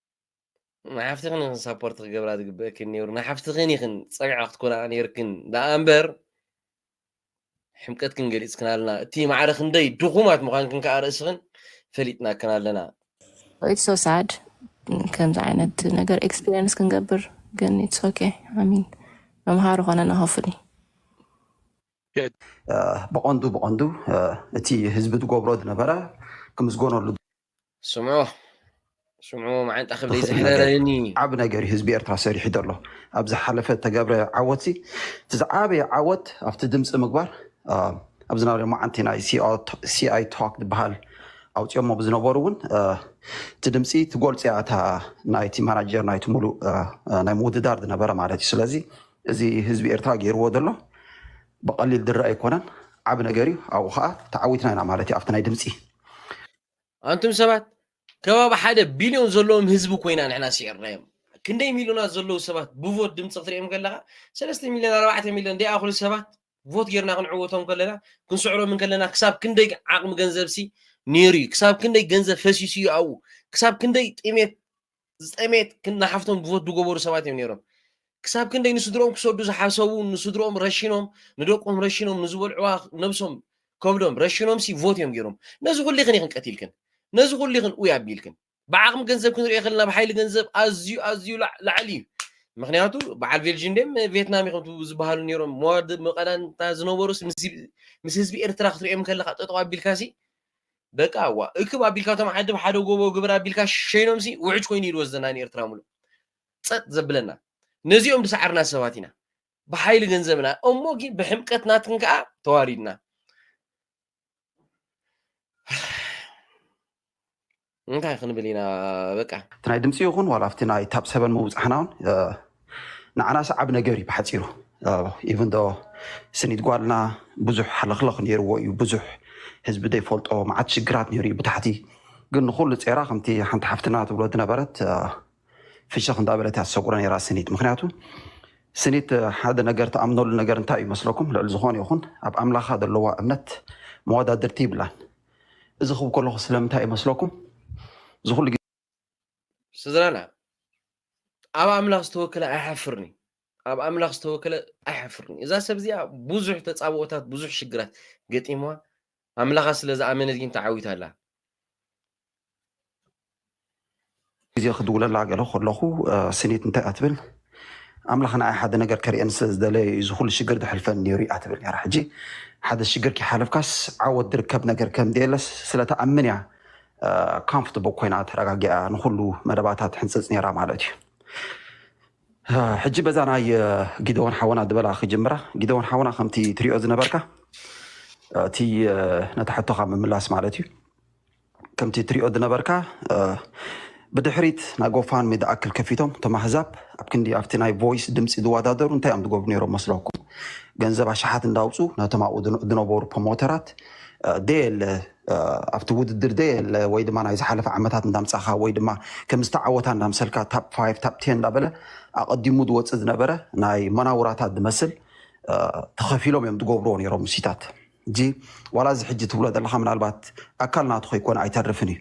ንሓፍትኽን ኢኽን ሳፖርት ክገብራ ዝግበእክን ነይሩ ንሓፍትኽን ኢኽን ፀግዒ ክትኮና ነይርክን ደኣ እምበር ሕምቀትክን ገሊፅክን ኣለና እቲ ማዕረ ክንደይ ድኹማት ምዃንክን ከዓ ርእስኽን ፈሊጥናክን ኣለና ኢትስ ሶ ሳድ ከምዚ ዓይነት ነገር ኤክስፒሪየንስ ክንገብር ግን ኢትስ ኦኬ ኣሚን መምሃሪ ኮነና ሆፍሊ ብቐንዱ ብቐንዱ እቲ ህዝቢ ዝገብሮ ዝነበረ ክምስገነሉ ስምዑ ስምዑ መዓንጣ ክብደይ ዘሕረረኒ ዓብ ነገር እዩ ህዝቢ ኤርትራ ሰሪሑ ዘሎ ኣብ ዝሓለፈ ተገብረ ዓወት ሲ እቲ ዝዓበየ ዓወት ኣብቲ ድምፂ ምግባር ኣብ ዝነበረ መዓንቲ ናይ ሲኣይ ቶክ ዝበሃል ኣውፅኦሞ ብዝነበሩ እውን እቲ ድምፂ ትጎልፂ እያ እታ ናይቲ ማናጀር ናይቲ ሙሉእ ናይ ምውድዳር ዝነበረ ማለት እዩ ስለዚ እዚ ህዝቢ ኤርትራ ገይርዎ ዘሎ ብቐሊል ድረ ኣይኮነን ዓብ ነገር እዩ ኣብኡ ከዓ ተዓዊትና ኢና ማለት እዩ ኣብቲ ናይ ድምፂ ኣንቱም ሰባት ከባቢ ሓደ ቢልዮን ዘለዎም ህዝቢ ኮይና ንሕና ስዒርናዮም ክንደይ ሚልዮናት ዘለዉ ሰባት ብቮት ድምፂ ክትሪኦም ከለካ ሰለስተ ሚልዮን ኣርባዕተ ሚልዮን ደይኣኽሉ ሰባት ቮት ጌርና ክንዕወቶም ከለና ክንስዕሮም ከለና ክሳብ ክንደይ ዓቕሚ ገንዘብሲ ነይሩ እዩ ክሳብ ክንደይ ገንዘብ ፈሲሱ እዩ ኣብኡ ክሳብ ክንደይ ጥሜት ዝጠመየት ክና ሓፍቶም ብቮት ዝገበሩ ሰባት እዮም ነይሮም ክሳብ ክንደይ ንስድሮኦም ክሰዱ ዝሓሰቡ ንስድሮኦም ረሽኖም ንደቆም ረሽኖም ንዝበልዕዋ ነብሶም ከብዶም ረሽኖም ሲ ቮት እዮም ገይሮም ነዚ ኩሉ ይኽን ይኽን ቀቲልክን ነዚ ኩሉ ይኽን ኡይ ኣቢልክን ብዓቕሚ ገንዘብ ክንሪኦ ከለና ብሓይሊ ገንዘብ ኣዝዩ ኣዝዩ ላዕሊ እዩ ምክንያቱ በዓል ቤልጅን ደም ቬትናም ይኹም ዝበሃሉ ነይሮም መዋድ መቐዳንታ ዝነበሩስ ምስ ህዝቢ ኤርትራ ክትሪኦም ከለካ ጠጠው ኣቢልካሲ በቃ እዋ እክብ ኣቢልካ እቶም ዓዲ ብሓደ ጎቦ ግበር ኣቢልካ ሸይኖምሲ ውዕጅ ኮይኑ ይድወስደና ንኤርትራ ምሉእ ጸጥ ዘብለና ነዚኦም ድሰዓርና ሰባት ኢና ብሓይሊ ገንዘብና እሞ ግን ብሕምቀት ናትን ከዓ ተዋሪድና እንታይ ክንብል ኢና በቃ እቲ ናይ ድምፂ ይኹን ዋላ ኣብቲ ናይ ታብ ሰበን ምውፃሕና እውን ንዓና ሰዓቢ ነገር እዩ ብሓፂሩ ኢቭን ዶ ስኒት ጓልና ብዙሕ ሓለኽለኽ ነይርዎ እዩ ብዙሕ ህዝቢ ዘይፈልጦ መዓት ሽግራት ነይሩ እዩ ብታሕቲ ግን ንኩሉ ፄራ ከምቲ ሓንቲ ሓፍትና ትብሎ ዝነበረት ፍሽኽ እንዳበለት እያ ትሰጉሮ ነይራ ስኒት ምክንያቱ ስኒት ሓደ ነገር ተኣምነሉ ነገር እንታይ እዩ መስለኩም ልዕሊ ዝኾነ ይኹን ኣብ ኣምላኻ ዘለዋ እምነት መወዳድርቲ ይብላን እዚ ክብ ከለኹ ስለምንታይ እዩ መስለኩም እዚ ኩሉ ስድራና ኣብ ኣምላኽ ዝተወከለ ኣይሓፍርን እዩ ኣብ ኣምላኽ ዝተወከለ ኣይሓፍርን እዛ ሰብ እዚኣ ብዙሕ ተፃብኦታት ብዙሕ ሽግራት ገጢምዋ ኣምላኻ ስለ ዝኣመነት ግን ተዓዊታ ኣላ ግዜ ክድውለላ ገለ ከለኹ ስኒት እንታይ ኣትብል ኣምላኽ ንዓይ ሓደ ነገር ከርእየኒ ስለ ዝደለየ እዩ እዚ ኩሉ ሽግር ዝሕልፈኒ ነይሩ እያ ትብል ነራ ሕጂ ሓደ ሽግር ከይሓለፍካስ ዓወት ዝርከብ ነገር ከም ዘየለስ ስለተኣምን እያ ካምፍትቦ ኮይና ተረጋጊኣ ንኩሉ መደባታ ትሕንፅፅ ነይራ ማለት እዩ። ሕጂ በዛ ናይ ጊደዎን ሓወና ዝበላ ክጅምራ ጊደዎን ሓወና ከምቲ ትሪኦ ዝነበርካ እቲ ነታ ሕቶኻ ምምላስ ማለት እዩ ከምቲ ትሪኦ ዝነበርካ ብድሕሪት ናይ ጎፋንሚ ዝኣክል ከፊቶም እቶም ኣህዛብ ኣብ ክንዲ ኣብቲ ናይ ቮይስ ድምፂ ዝወዳደሩ እንታይ እዮም ዝገብሩ ነይሮም መስለኩም ገንዘብ ኣሽሓት እንዳውፁ ነቶም ኣብኡ ዝነበሩ ፕሮሞተራት ደየለ ኣብቲ ውድድር ዘየለ ወይ ድማ ናይ ዝሓለፈ ዓመታት እንዳምጻኻ ወይ ድማ ከም ዝተዓወታ እንዳምሰልካ ታፕ ፋይቭ ታፕ ቴን እንዳበለ ኣቐዲሙ ዝወፅእ ዝነበረ ናይ መናውራታት ዝመስል ተኸፊሎም እዮም ዝገብርዎ ነይሮም ምሲታት እዚ ዋላ እዚ ሕጂ ትብሎ ዘለካ ምናልባት ኣካል ናቱ ከይኮነ ኣይተርፍን እዩ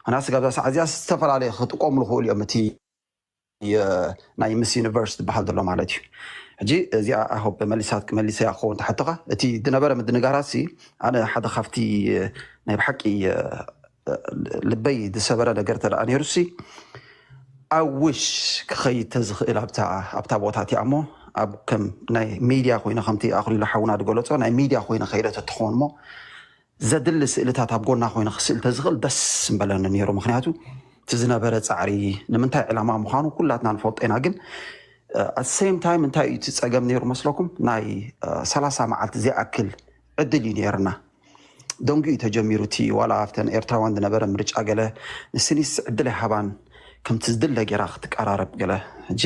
ምክንያቱ ስጋብ እዛ ሰዓት እዚኣ ዝተፈላለየ ክጥቀምሉ ክእሉ እዮም እቲ ናይ ምስ ዩኒቨርስ ዝበሃል ዘሎ ማለት እዩ ሕጂ እዚኣ ኣሆብ መሊሳት መሊሰያ ክኸውን ተሓተኻ እቲ ዝነበረ ምድንጋራሲ ኣነ ሓደ ካብቲ ናይ ብሓቂ ልበይ ዝሰበረ ነገር ተደኣ ነይሩሲ ኣብ ውሽ ክኸይድ ተዝኽእል ኣብታ ቦታ እቲኣ እሞ ኣብ ከም ናይ ሚድያ ኮይነ ከምቲ ኣኽሊሉ ሓውና ዝገለፆ ናይ ሚድያ ኮይነ ከይደ ተትኸውን እሞ ዘድሊ ስእልታት ኣብ ጎና ኮይነ ክስእል ተዝክእል ደስ ምበለኒ ኔሩ ምክንያቱ እቲ ዝነበረ ጻዕሪ ንምንታይ ዕላማ ምዃኑ ኩላትና ንፈልጦ ኢና ግን ኣት ሰም ታይም እንታይ እዩ እቲ ጸገም ኔሩ መስለኩም ናይ ሰላሳ መዓልቲ ዘይኣክል ዕድል እዩ ኔርና ደንጉ እዩ ተጀሚሩ እቲ ዋላ ኣብተን ኤርትራውያን ዝነበረ ምርጫ ገለ ንስኒስ ዕድል ኣይሃባን ከምቲ ዝድለ ጌራ ክትቀራረብ ገለ ሕጂ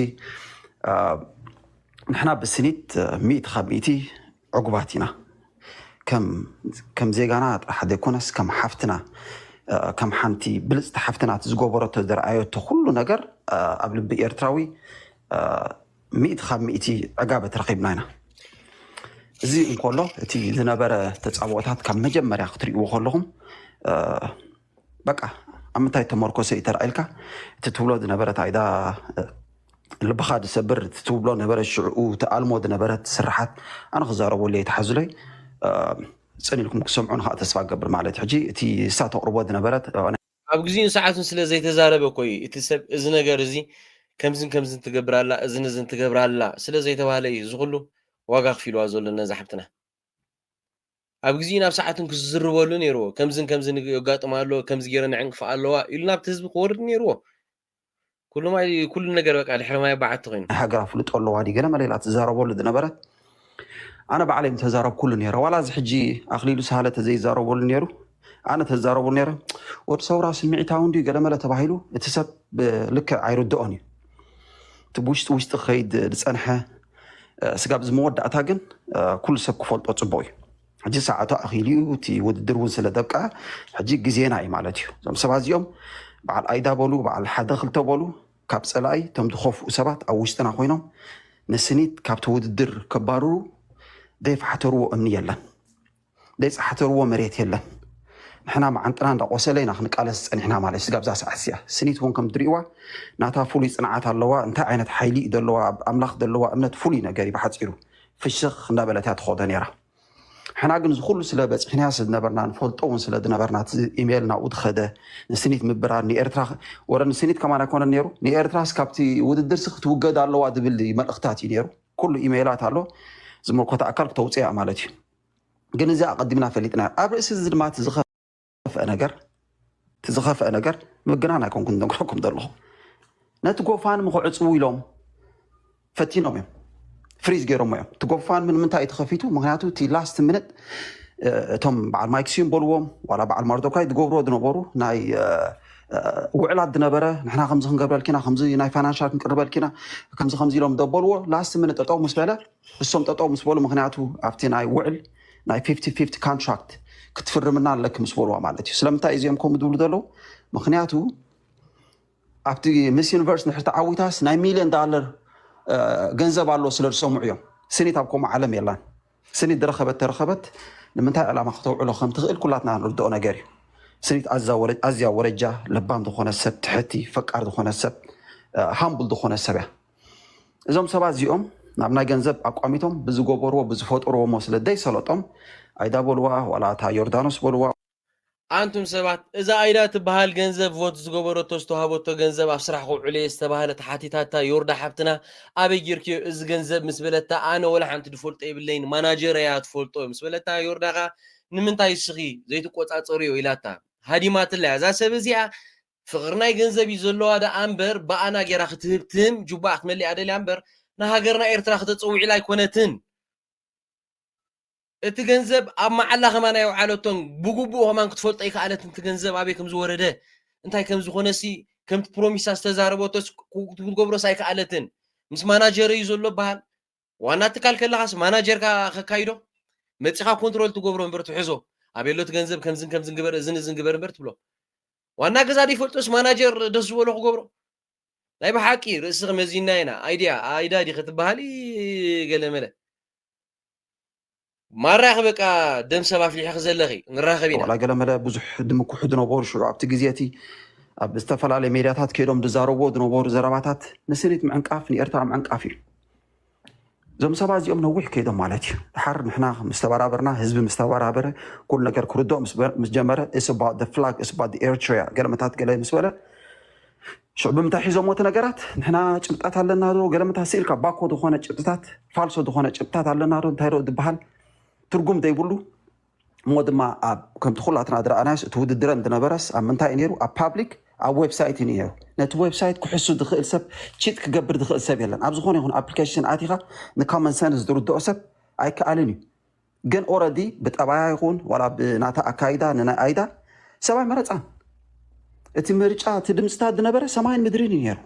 ንሕና ብስኒት ሚእቲ ካብ ሚእቲ ዕጉባት ኢና ከም ዜጋና ጥራሕ ዘይኮነስ ከም ሓፍትና ከም ሓንቲ ብልጽቲ ሓፍትና እቲ ዝገበረቶ ዘርኣየቶ ኩሉ ነገር ኣብ ልቢ ኤርትራዊ ሚእቲ ካብ ሚእቲ ዕጋበት ረኺብና ኢና እዚ እንኮሎ እቲ ዝነበረ ተጻብኦታት ካብ መጀመርያ ክትሪእዎ ከለኹም በቃ ኣብ ምንታይ ተመርኮሰ እዩ ተራኢልካ እቲ ትብሎ ዝነበረት ኣይዳ ልብኻ ዝሰብር እቲ ትብሎ ነበረ ሽዕኡ ትኣልሞ ዝነበረት ስራሓት ኣነ ክዛረቦ ለይ ተሓዝሎይ ፅን ኢልኩም ክሰምዑን ከዓ ተስፋ ገብር ማለት ሕጂ እቲ እሳ ተቕርቦ ዝነበረት ኣብ ግዚኡን ሰዓቱን ስለ ዘይተዛረበ እኮ እዩ እቲ ሰብ እዚ ነገር እዚ ከምዝን ከምዝን ትገብር ኣላ እዝን እዝን ትገብር ኣላ ስለ ዘይተባህለ እዩ እዚ ኩሉ ዋጋ ኣኽፊልዋ ዘሎ ነዛ ሓብትና። ኣብ ግዚኡን ኣብ ሰዓቱን ክዝርበሉ ነይርዎ ከምዝን ከምዝን የጋጥማ ኣሎ ከምዚ ገይረን ይዕንቅፋ ኣለዋ ኢሉ ናብቲ ህዝቢ ክወርድ ነይርዎ ኩሉ ማይ ኩሉ ነገር በቃ ድሕሪ ማይ በዓቲ ኮይኑ ናይ ሃገራ ፍልጦ ኣለዋ ድዩ ገለ መለ ኢላ ትዛረበሉ ዝነበረት ኣነ ባዕለይ ምተዛረብኩሉ ነይረ ዋላ እዚ ሕጂ ኣክሊሉ ሳህለ ተዘይዛረበሉ ነይሩ ኣነ ተዛረቡ ነረ ወድ ሰውራ ስምዒታዊ እንዲ ገለመለ ተባሂሉ እቲ ሰብ ልክዕ ኣይርድኦን እዩ እቲ ብውሽጢ ውሽጢ ክኸይድ ዝፀንሐ ስጋብ እዚ መወዳእታ ግን ኩሉ ሰብ ክፈልጦ ፅቡቅ እዩ ሕጂ ሰዓቱ ኣኺሉ እዩ እቲ ውድድር እውን ስለ ደብቃ ሕጂ ግዜና እዩ ማለት እዩ እዞም ሰባት እዚኦም በዓል ኣይዳ በሉ በዓል ሓደ ክልተ በሉ ካብ ፀላኢ እቶም ዝኸፍኡ ሰባት ኣብ ውሽጥና ኮይኖም ንስኒት ካብቲ ውድድር ከባርሩ ዘይፈሓተርዎ እምኒ የለን ዘይጻሕተርዎ መሬት የለን ንሕና መዓንጥና እንዳቆሰለ ኢና ክንቃለስ ጸኒሕና ማለት ስጋብ እዛ ሰዓት እዚኣ ስኒት እውን ከምትሪእዋ ናታ ፍሉይ ጽንዓት ኣለዋ እንታይ ዓይነት ሓይሊ እዩ ዘለዋ ኣብ ኣምላኽ ዘለዋ እምነት ፍሉይ ነገር እዩ ብሓጺሩ ፍሽኽ እንዳበለት እያ ትኸዶ ነይራ ሕና ግን ዝኩሉ ስለ በፂሕናያ ስለዝነበርና ንፈልጦ እውን ስለ ዝነበርና እቲ ኢሜይል ናብኡ ዝኸደ ንስኒት ምብራር ንኤርትራ ወረ ንስኒት ከማን ኣይኮነን ነይሩ ንኤርትራስ ካብቲ ውድድርሲ ክትውገድ ኣለዋ ዝብል መልእኽታት እዩ ነይሩ ኩሉ ኢሜይላት ኣሎ ዝመልኮታ ኣካል ክተውፅያ ማለት እዩ ግን እዚ ኣቐዲምና ፈሊጥና ኣብ ርእሲ እዚ ድማ እቲ ዝኸፍአ ነገር እቲ ዝኸፍአ ነገር ምግናን ኣይኮንኩን ነግረኩም ዘለኹ ነቲ ጎፋንሚ ክዕፅዉ ኢሎም ፈቲኖም እዮም ፍሪዝ ገይሮሞ እዮም እቲ ጎፋንሚ ንምንታይ እዩ ተኸፊቱ ምክንያቱ እቲ ላስት ምንጥ እቶም በዓል ማይክስዩም በልዎም ዋላ በዓል ማርዶካይ ዝገብርዎ ዝነበሩ ናይ ውዕላት ዝነበረ ንሕና ከምዚ ክንገብረልኪና ከምዚ ናይ ፋይናንሻል ክንቅርበልኪና ከምዚ ከምዚ ኢሎም ደበልዎ ላስት ምንጥ ጠጠው ምስ በለ ንሶም ጠጠው ምስ በሉ ምክንያቱ ኣብቲ ናይ ውዕል ናይ ፊፍቲ ፊፍቲ ካንትራክት ክትፍርምና ኣለኪ ምስ በልዋ ማለት እዩ ስለምንታይ እዩ እዚኦም ከምኡ ዝብሉ ዘለዉ ምክንያቱ ኣብቲ ምስ ዩኒቨርስ ንድሕር ተዓዊታስ ናይ ሚልዮን ዳለር እ፣ ገንዘብ ኣሎ ስለ ዝሰምዑ እዮም ስኒት ኣብ ከምኡ ዓለም የላን ስኒት ዝረኸበት ተረኸበት ንምንታይ ዕላማ ከተውዕሎ ከም ትኽእል ኩላትና ንርድኦ ነገር እዩ ስኒት ኣዛ ወረ- ኣዝያ ወረጃ ለባም ዝኾነ ሰብ ትሕቲ ፈቃር ዝኾነ ሰብ ሃምቡል ዝኾነ ሰብ እያ እዞም ሰባት እዚኦም ናብ ናይ ገንዘብ ኣቋሚቶም ብዝገበርዎ ብዝፈጠርዎሞ ስለ ዘይሰለጦም ኣይዳ በልዋ ዋላ እታ ዮርዳኖስ በልዋ ኣንቱም ሰባት እዛ ኣይዳ ትብሃል ገንዘብ ቮት ዝገበረቶ ዝተዋሃበቶ ገንዘብ ኣብ ስራሕ ከውዕሎ እየ ዝተባህለት ሓቲታታ ዮርዳ ሓብትና ኣበይ ጌርክዮ እዚ ገንዘብ ምስ በለታ ኣነ ወላ ሓንቲ ድፈልጦ የብለይን ማናጀረይ እያ ትፈልጦ ምስ በለታ ዮርዳ ከኣ ንምንታይ እስኺ ዘይትቆጻጸርዮ ኢላታ ሃዲማትላ እያ እዛ ሰብ እዚኣ ፍቅር ናይ ገንዘብ እዩ ዘለዋ ደኣ እምበር ብኣና ጌራ ክትህብ ትም ጁባኣ ክትመሊኣ ደልያ እምበር ንሃገርና ኤርትራ ክተጸውዕ ኢላ ኣይኮነትን እቲ ገንዘብ ኣብ መዓላ ከማን ኣየውዓለቶን ብጉቡእ ከማን ክትፈልጦ ኣይከኣለትን እቲ ገንዘብ ኣበይ ከም ዝወረደ እንታይ ከም ዝኾነሲ ከምቲ ፕሮሚሳ ዝተዛረበቶስ ክትገብሮስ ኣይከኣለትን ምስ ማናጀረዩ ዘሎ በሃል ዋና ትካል ከለኻስ ማናጀርካ ከካይዶ መፂኻ ኮንትሮል ትገብሮ እምበር ትሕዞ ኣቤሎት ገንዘብ ከምዝን ከምዝን ግበር እዝን እዝን ግበር እምበር ትብሎ ዋና ገዛ ዘይፈልጦስ ማናጀር ደስ ዝበሎ ክገብሮ ናይ ብሓቂ ርእስኺ መዚና ኢና ኣይድያ ኣይዳ ዲኺ ትበሃሊ ገለመለ ማራኺ በቃ ደም ሰብ ኣፍሊሕኺ ዘለኺ ንራኸብ ኢና። ዋላ ገለመለ ብዙሕ ድምኩሑ ድነበሩ ሽዑ ኣብቲ ግዜ እቲ ኣብ ዝተፈላለየ ሜድያታት ከይዶም ድዛረብዎ ድነበሩ ዘረባታት ንስኒት ምዕንቃፍ ንኤርትራ ምዕንቃፍ እዩ። እዞም ሰባት እዚኦም ነዊሕ ከይዶም ማለት እዩ። ድሓር ንሕና ምስ ተበራበርና ህዝቢ ምስ ተበራበረ ኩሉ ነገር ክርድኦ ምስ ጀመረ it's about the flag it's about the Eritrea ገለመታት ገለ ምስ በለ ሽዑ ብምንታይ ሒዞሞ እቲ ነገራት ንሕና ጭብጣት ኣለና ዶ ገለ ምታ ስኢልካ ባኮ ዝኾነ ጭብጥታት ፋልሶ ዝኾነ ጭብጥታት ኣለና ዶ እንታይ ዶ ድበሃል ትርጉም ዘይብሉ እሞ ድማ ኣብ ከምቲ ኩላትና ዝረኣናዮስ እቲ ውድድረን ዝነበረስ ኣብ ምንታይ እዩ ነይሩ ኣብ ፓብሊክ ኣብ ዌብሳይት እዩ ነይሩ ነቲ ዌብሳይት ክሕሱ ዝኽእል ሰብ ቺት ክገብር ዝኽእል ሰብ የለን ኣብ ዝኾነ ይኹን ኣፕሊኬሽን ኣቲኻ ንኮመን ሰንስ ዝርድኦ ሰብ ኣይከኣልን እዩ ግን ኦረዲ ብጠባያ ይኹን ዋላ ብናታ ኣካይዳ ንናይ ኣይዳ ሰብ ኣይመረፃን እቲ ምርጫ እቲ ድምፅታት ዝነበረ ሰማይን ምድሪን እዩ ነይሩ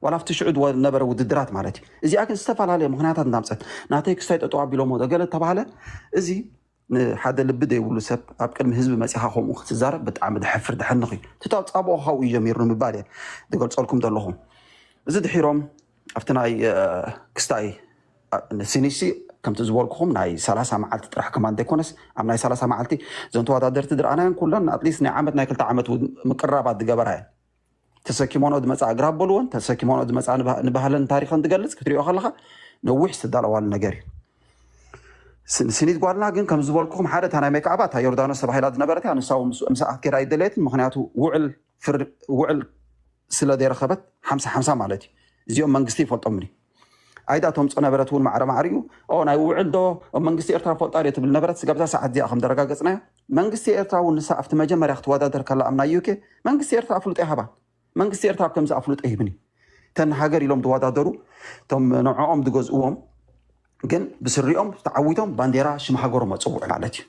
ዋላ ኣብቲ ሽዑ ዝነበረ ውድድራት ማለት እዩ እዚኣ ግን ዝተፈላለየ ምክንያታት እንዳምፀት ናተይ ክስታይ ጠጠው ኣቢሎሞ ገለ ተባሃለ እዚ ንሓደ ልቢ ዘይብሉ ሰብ ኣብ ቅድሚ ህዝቢ መፂኻ ከምኡ ክትዛረብ ብጣዕሚ ድሕፍር ድሕንኽ እዩ እቲ ተፃብኦ ካብኡ እዩ ጀሚሩ ንምባል እየ ዝገልፀልኩም ዘለኹ እዚ ድሒሮም ኣብቲ ናይ ክስታይ ሲኒሲ ከምቲ ዝበልኩኹም ናይ ሰላሳ መዓልቲ ጥራሕ ከማ እንተይኮነስ ኣብ ናይ ሰላሳ መዓልቲ እዘን ተወዳደርቲ ዝረኣናየን ኩለን ኣትሊስት ናይ ዓመት ናይ ክልተ ዓመት ምቅራባት ዝገበራ እየን ተሰኪሞኖ ዝመፃ እግራ ኣበልዎን ተሰኪሞኖ ዝመፃ ንባህለን ታሪኸን ዝገልፅ ክትሪኦ ከለካ ነዊሕ ዝተዳለዋሉ ነገር እዩ ስኒት ጓልና ግን ከም ዝበልኩኹም ሓደ እታ ናይ ሜክኣባ እታ ዮርዳኖስ ተባሂላ ዝነበረት እያ ንሳ ምስ ኣትኬዳ ኣይደለየትን ምክንያቱ ውዕል ስለ ዘይረኸበት ሓምሳ ሓምሳ ማለት እዩ እዚኦም መንግስቲ ይፈልጦምን እዩ ኣይዳ ተምፆ ነበረት እውን ማዕረ ማዕሪኡ ኦ ናይ ውዕል ዶ ኦ መንግስቲ ኤርትራ ፈልጣ ድዮ ትብል ነበረት ስጋብዛ ሰዓት እዚኣ ከም ደረጋገፅናዮ መንግስቲ ኤርትራ እውን ንሳ ኣብቲ መጀመርያ ክትወዳደር ከላ ኣብ ናይ ዩኬ መንግስቲ ኤርትራ ኣፍልጦ ይሃባን መንግስቲ ኤርትራ ኣብ ከምዚ ኣፍልጦ ይህብን እዩ ተን ሃገር ኢሎም ዝወዳደሩ እቶም ንዕኦም ዝገዝእዎም ግን ብስሪኦም ተዓዊቶም ባንዴራ ሽም ሃገሮም ኣፅውዑ ማለት እዩ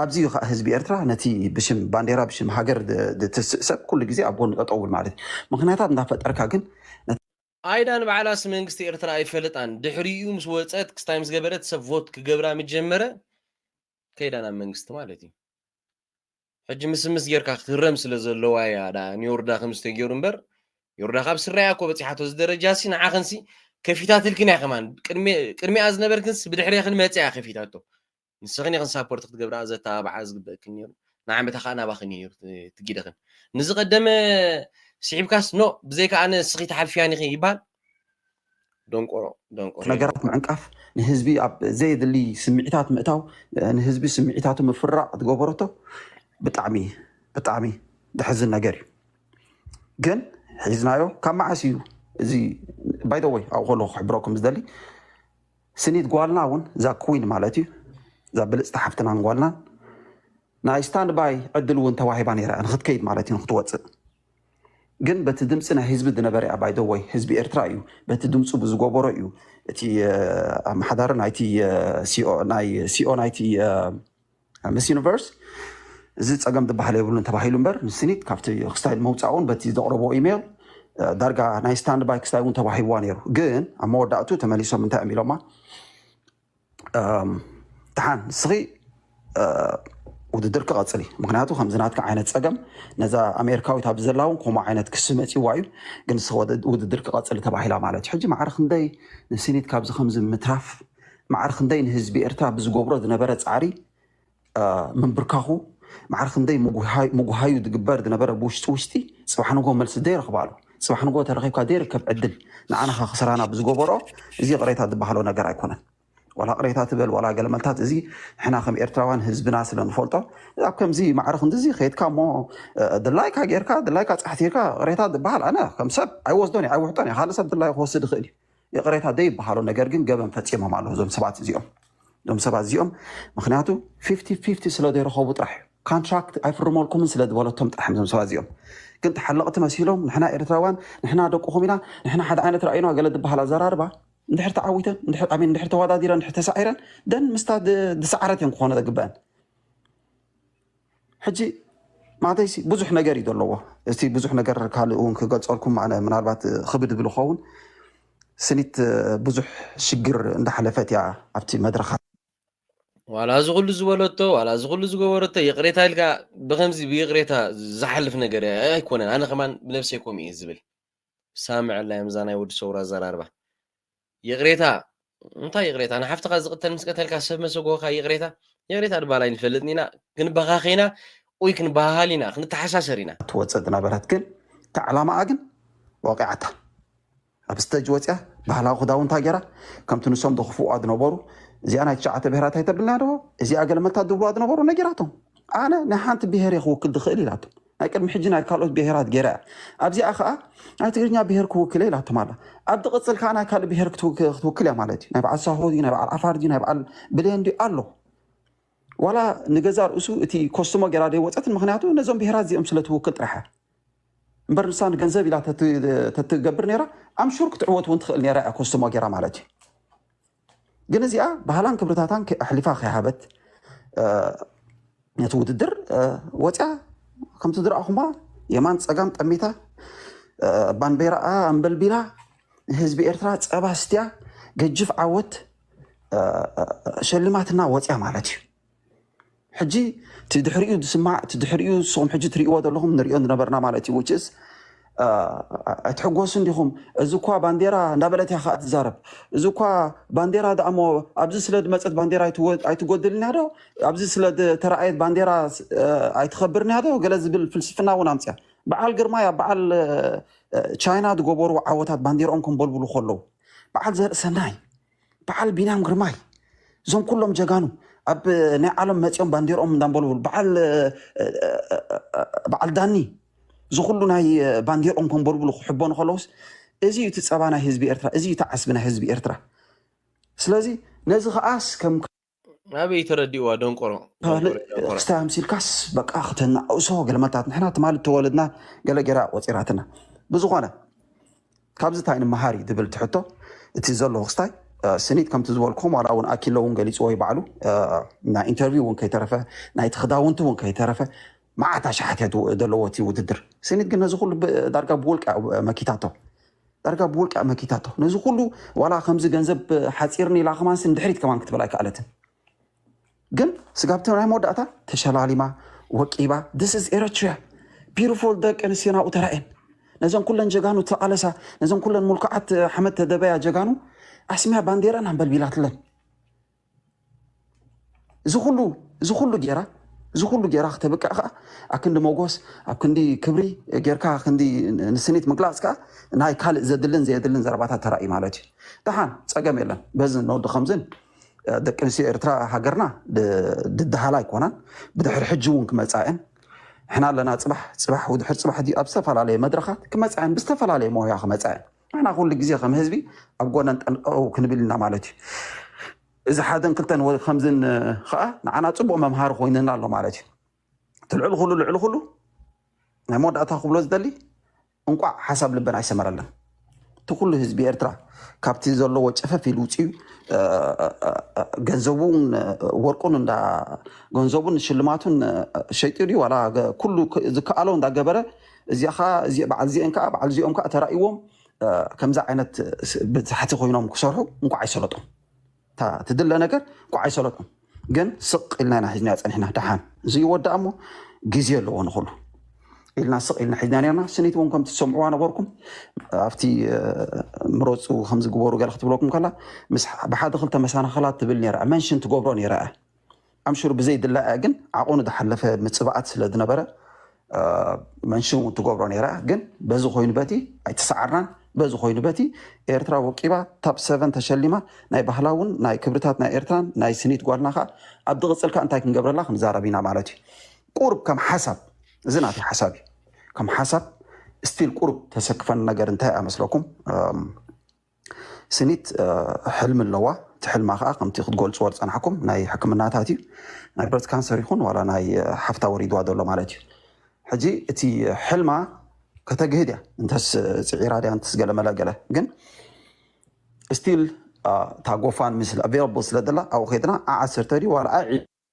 ኣብዚ እዩ ከኣ ህዝቢ ኤርትራ ነቲ ብሽም ባንዴራ ብሽም ሃገር ዝትስእ ሰብ ኩሉ ግዜ ኣብ ጎኑ ጠጠው ክብል ማለት እዩ። ምኽንያታት እንዳፈጠርካ ግን ነቲ። ኣይዳ ንባዕላስ መንግስቲ ኤርትራ ኣይፈልጣን ድሕሪኡ ምስ ወጸት ክስታይ ምስ ገበረት ሰብ ቮት ክገብራ ምስ ጀመረ ከይዳ ናብ መንግስቲ ማለት እዩ ሕጂ ምስምስ ጌርካ ክትህረም ስለ ዘለዋ እያ ዳ ንዮርዳ ከምዚ ተጌሩ እምበር ዮርዳ ካብ ስራ እያ እኮ በጺሓቶ እዚ ደረጃ ሲ ንዓኽንሲ ከፊታትልክን እያ ከማን ቅድሚ ቅድሚኣ ዝነበርክንስ ብድሕሬኽን መጽያ ከፊታቶ ንስኽን ኢኽን ሳፖርት ክትገብርኣ ዘተባብዓ ዝግበእክን ኔሩ ንዓመታ ከኣ ናባኽን ኢዩ ኔሩ እቲ ጊደኽን ንዝቀደመ ስሒብካስ ኖእ ብዘይካ ኣነ ንስኺ ትሓልፍያን ኢኺ ይበሃል ደንቆሮ ደንቆሮ ነገራት ምዕንቃፍ ንህዝቢ ኣብ ዘየድሊ ስምዒታት ምእታው ንህዝቢ ስምዒታቱ ምፍራቅ ዝገበረቶ ብጣዕሚ ብጣዕሚ ዘሕዝን ነገር እዩ ግን ሒዝናዮ ካብ መዓስ እዩ እዚ ባይ ዘ ወይ ኣብኡ ከለኩ ክሕብረኩም ዝደሊ ስኒት ጓልና ውን እዛ ክዊን ማለት እዩ እዛ ብልጽቲ ሓፍትናን ጓልናን ናይ ስታንድ ባይ ዕድል ውን ተዋሂባ ነይራ ንክትከይድ ማለት እዩ ንክትወጽእ ግን በቲ ድምፂ ናይ ህዝቢ ዝነበረ እያ ባይ ደወይ ህዝቢ ኤርትራ እዩ በቲ ድምፁ ብዝጎበሮ እዩ እቲ ኣመሓዳሪ ናይቲ ሲኦ ናይቲ ምስ ዩኒቨርስ እዚ ፀገም ዝበሃል የብሉን ተባሂሉ እምበር ንስኒት ካብቲ ክስታይ ንምውፃእ እውን በቲ ዘቕረቦ ኢሜይል ዳርጋ ናይ ስታንድ ባይ ክስታይ እውን ተዋሂብዋ ነይሩ ግን ኣብ መወዳእቱ ተመሊሶም እንታይ እዮም ኢሎማ ተሓን ንስኺ ውድድር ክቐፅል እዩ ምክንያቱ ከምዚ ናትካ ዓይነት ፀገም ነዛ ኣሜሪካዊት ኣብዚ ዘላ እውን ከምኡ ዓይነት ክሲ መፅዋ እዩ ግን ንስኺ ውድድር ክቐፅል ተባሂላ ማለት እዩ ሕጂ ማዕረ ክንደይ ንሲኒት ካብዚ ከምዚ ምትራፍ ማዕረ ክንደይ ንህዝቢ ኤርትራ ብዝገብሮ ዝነበረ ጻዕሪ ምንብርካኹ፣ ማዕረ ክንደይ ምጉሃዩ ዝግበር ዝነበረ ብውሽጢ ውሽጢ፣ ጽባሕ ንግሆ መልሲ ዘይረኽባሉ፣ ጽባሕ ንግሆ ተረኺብካ ዘይርከብ ዕድል ንዓናኻ ክስራና ብዝገበሮ፣ እዚ ይቕሬታ ዝበሃሎ ነገር ኣይኮነን። ዋላ ቅሬታ ትበል ዋላ ገለ መልታት እዚ ንሕና ከም ኤርትራውያን ህዝብና ስለ ንፈልጦ ኣብ ከምዚ ማዕረ ክንድዚ ከይድካ እሞ ድላይካ ጌርካ ድላይካ ጻሕቲርካ ቅሬታ ዝበሃል ኣነ ከም ሰብ ኣይወስዶን እየ ኣይውሕጦን እየ ካልእ ሰብ ድላዩ ክወስድ ይኽእል እዩ ይቕሬታ ዘይበሃሎ ነገር ግን ገበን ፈፂሞም ኣለዉ እዞም ሰባት እዚኦም እዞም ሰባት እዚኦም ምክንያቱ ፊፍቲ ፊፍቲ ስለ ዘይረኸቡ ጥራሕ እዩ ካንትራክት ኣይፍርመልኩምን ስለ ዝበለቶም ጥራሕ እዮም እዞም ሰባት እዚኦም ግን ተሓለቕቲ መሲሎም ንሕና ኤርትራውያን ንሕና ደቁኹም ኢና ንሕና ሓደ ዓይነት ራእዩና ገለ ዝበሃል ኣዘራርባ እንድሕር ተዓዊተን እንድሕር ኣሜን እንድሕር ተወዳዲረን እንድሕር ተሳዒረን ደን ምስታ ድ- ዝሰዓረት እየን ክኾነ ዘግበአን ሕጂ ማዕተይሲ ብዙሕ ነገር እዩ ዘለዎ እቲ ብዙሕ ነገር ካልእ እውን ክገልፀልኩም ኣነ ምናልባት ክብድ ብል ኸውን ስኒት ብዙሕ ሽግር እንዳሓለፈት እያ ኣብቲ መድረኻ ዋላ እዚ ኩሉ ዝበለቶ ዋላ እዚ ኩሉ ዝገበረቶ ይቕሬታ ኢልካ ብከምዚ ብይቕሬታ ዝሓልፍ ነገር ኣይኮነን ኣነ ከማን ብነብሰይ ከምኡ እየ ዝብል ሳምዐላ እዮም እዛ ናይ ወዲ ሰውራ ኣዘራርባ ይቕሬታ እንታይ ይቕሬታ ንሓፍትኻ ዝቕተል ምስ ቀተልካ ሰብ መሰጎኻ ይቕሬታ ይቕሬታ ድባል ኣይንፈልጥን ኢና ክንበኻኸና ኡይ ክንበሃሃል ኢና ክንተሓሳሰር ኢና ትወፅእ ዝነበረት ግን እታ ዕላማኣ ግን ወቂዓታ ኣብ ስተጅ ወፅያ ባህላዊ ክዳውንታ ገይራ ከምቲ ንሶም ዝኽፍዋ ዝነበሩ እዚኣ ናይ ትሸዓተ ብሄራት ኣይተብልና ዶ እዚኣ ገለመታ ዝብልዋ ዝነበሩ ነጊራቶም ኣነ ናይ ሓንቲ ብሄር እየ ክውክል ዝኽእል ኢላቶም ናይ ቅድሚ ሕጂ ናይ ካልኦት ብሄራት ገይራ እያ። ኣብዚኣ ከኣ ናይ ትግርኛ ብሄር ክውክል እየ ኢላቶም ኣላ። ኣብ ትቕጽል ከኣ ናይ ካልእ ብሄር ክትውክል እያ ማለት እዩ። ናይ በዓል ሳሆ ድዩ ናይ በዓል ዓፋር ድዩ ናይ በዓል ብሌን ድዩ ኣሎ ዋላ ንገዛ ርእሱ እቲ ኮስትሞ ገይራ ደይወፀትን ምክንያቱ ነዞም ብሄራት እዚኦም ስለ ትውክል ጥራሕ እያ እምበር ንሳ ንገንዘብ ኢላ ተትገብር ነይራ ኣምሹር ክትዕወት እውን ትኽእል ነይራ እያ ኮስትሞ ገይራ ማለት እዩ ግን እዚኣ ባህላን ክብርታታን ኣሕሊፋ ከይሃበት ነቲ ውድድር ወፅያ ከምቲ ዝረኣኹማ የማን ፀጋም ጠሚታ ባንዴራኣ ኣንበልቢላ ንህዝቢ ኤርትራ ፀባ ስትያ ገጅፍ ዓወት ሸልማትና ወፅያ ማለት እዩ። ሕጂ እቲ ድሕሪኡ ዝስማዕ እቲ ድሕሪኡ ንስኹም ሕጂ ትርእይዎ ዘለኹም ንሪኦ ዝነበርና ማለት እዩ ውጭስ ኣይትሕጎሱን ዲኹም እዚ እኳ ባንዴራ እንዳበለት እያ ከዓ ትዛረብ እዚ እኳ ባንዴራ ደኣ እሞ ኣብዚ ስለ ዝመፀት ባንዴራ ኣይትጎድልን እያ ዶ ኣብዚ ስለ ተረኣየት ባንዴራ ኣይትኸብርን እያ ዶ ገለ ዝብል ፍልስፍና እውን ኣምፅያ በዓል ግርማይ ኣብ በዓል ቻይና ዝገበሩ ዓወታት ባንዴርኦም ከምበልብሉ ከለዉ በዓል ዘርእሰናይ በዓል ቢንያም ግርማይ እዞም ኩሎም ጀጋኑ ኣብ ናይ ዓለም መፂኦም ባንዴርኦም እንዳንበልበሉ በዓል በዓል ዳኒ ዝኩሉ ናይ ባንዴርኦም ከንበልብሉ ክሕበኑ ከለውስ እዚ እዩ እቲ ፀባ ናይ ህዝቢ ኤርትራ እዚ እዩ እቲ ዓስቢ ናይ ህዝቢ ኤርትራ ስለዚ ነዚ ከዓስ ከም ኣበይ ተረዲእዋ ደንቆሮ ካልእ ደንቆሮ ደንቆሮ ክስታይ ኣምሲልካስ በቃ ክተናእሶ ገለ መታት ንሕና ትማሊ ተወለድና ገለ ገይራ ቆፂራትና ብዝኾነ ካብዚ ታይ ንመሃር እዩ ዝብል እቲ ሕቶ እቲ ዘሎ ክስታይ እ፣ ስኒት ከምቲ ዝበልኩም ዋላ እውን ኣኪሎ እውን ገሊፅዎ እዩ ባዕሉ እ፣ ናይ ኢንተርቪው እውን ከይተረፈ ናይቲ ክዳውንቲ እውን ከይተረፈ መዓት ኣሽሓት እያ ዘለዎ እቲ ውድድር ስኒት ግን ነዚ ኩሉ ብ- ዳርጋ ብውልቃ እዩ መኪታቶ ዳርጋ ብውልቃ መኪታቶ ነዚ ኩሉ ዋላ ከምዚ ገንዘብ ሓፂርኒ ኢላ ከማንስ ንድሕሪት ከማን ክትብል ኣይከኣለትን ግን ስጋብቲ ናይ መወዳእታ ተሸላሊማ ወቂባ ስ ስ ኤረትሪያ ቢሩፉል ደቂ ኣንስትዮ ናብኡ ተራእየን ነዘን ኩለን ጀጋኑ ተቃለሳ ነዘን ኩለን ሙልኩዓት ሓመድ ተደበያ ጀጋኑ ኣስሚያ ባንዴረን ኣንበልቢላትለን እዚ ኩሉ እዚ ኩሉ ጌራ እዚ ኩሉ ጌራ ክተብቅዕ ከዓ ኣብ ክንዲ መጎስ ኣብ ክንዲ ክብሪ ጌርካ ክንዲ ንስኒት ምግላፅ ከዓ ናይ ካልእ ዘድልን ዘየድልን ዘረባታት ተራእዩ ማለት እዩ ደሓን ፀገም የለን በዚ ነወዲ ከምዝን ደቂ ኣንስትዮ ኤርትራ ሃገርና ድድሃላ ኣይኮናን ብድሕሪ ሕጂ እውን ክመፃ እየን ሕና ኣለና ፅባሕ ፅባሕ ውድሕር ፅባሕ ድዩ ኣብ ዝተፈላለየ መድረኻት ክመፃ እየን ብዝተፈላለየ ሞያ ክመፃ እየን ንሕና ኩሉ ግዜ ከም ህዝቢ ኣብ ጎነን ጠንቀው ክንብል ኢና ማለት እዩ። እዚ ሓደን ክልተን ወይ ከምዝን ከዓ ንዓና ፅቡቅ መምሃሪ ኮይንና ኣሎ ማለት እዩ። እቲ ልዕሊ ኩሉ ልዕሊ ኩሉ ናይ መወዳእታ ክብሎ ዝደሊ እንቋዕ ሓሳብ ልበን ኣይሰመረለን እቲ ኩሉ ህዝቢ ኤርትራ ካብቲ ዘለዎ ጨፈፍ ኢሉ ውፅኡ ገንዘቡን ወርቁን እንዳ ገንዘቡን ሽልማቱን ሸይጡ ድዩ ዋላ ኩሉ ዝከኣሎ እንዳገበረ እዚኣ ከኣ በዓል እዚኤን ከኣ በዓል እዚኦም ከኣ ተራእይዎም ከምዚ ዓይነት በታሕቲ ኮይኖም ክሰርሑ እንኳዕ ኣይሰለጦም እታ ትድለ ነገር እንኳዕ ኣይሰለጦም ግን ስቅ ኢልና ኢና ሒዝናያ ጸኒሕና ደሓን እዚ ይወዳእ እሞ ግዜ ኣለዎ ንኹሉ ኢልና ስቅ ኢልና ሒዝና ነርና ስኒት እውን ከምቲ ትሰምዕዋ ነበርኩም ኣብቲ ምረፁ ከምዚ ግበሩ ገለ ክትብለኩም ከላ ምስ ብሓደ ክልተ መሰናኸላት ትብል ነራ መንሽን ትገብሮ ነራ እያ ኣምሽሩ ብዘይ ድላያ ግን ዓቐኑ ዝሓለፈ ምጽባኣት ስለ ዝነበረ መንሽን እውን ትገብሮ ነይራ ግን በዚ ኮይኑ በቲ ኣይተሰዓርናን በዚ ኮይኑ በቲ ኤርትራ ወቂባ ታብ ሰቨን ተሸሊማ ናይ ባህላውን ናይ ክብርታት ናይ ኤርትራን ናይ ስኒት ጓልና ከዓ ኣብ ዝቕፅል ከዓ እንታይ ክንገብረላ ክንዛረብ ኢና ማለት እዩ ቁርብ ከም ሓሳብ እዚ ናተይ ሓሳብ እዩ ከም ሓሳብ ስቲል ቁርብ ተሰክፈን ነገር እንታይ እያ መስለኩም ስኒት ሕልሚ ኣለዋ እቲ ሕልማ ከዓ ከምቲ ክትገልፅዎ ዝፀናሕኩም ናይ ሕክምናታት እዩ ናይ ብረት ካንሰር ይኹን ዋላ ናይ ሓፍታ ወሪድዋ ዘሎ ማለት እዩ ሕጂ እቲ ሕልማ ከተግህድ እያ እንተስ ፅዒራ ድያ እንተስ ገለመለ ገለ ግን ስቲል እታ ጎፋን ምስ ኣቬረብል ስለ ዘላ ኣብኡ ከድና ዓ ዓሰርተ ድዩ ዋላ ዓ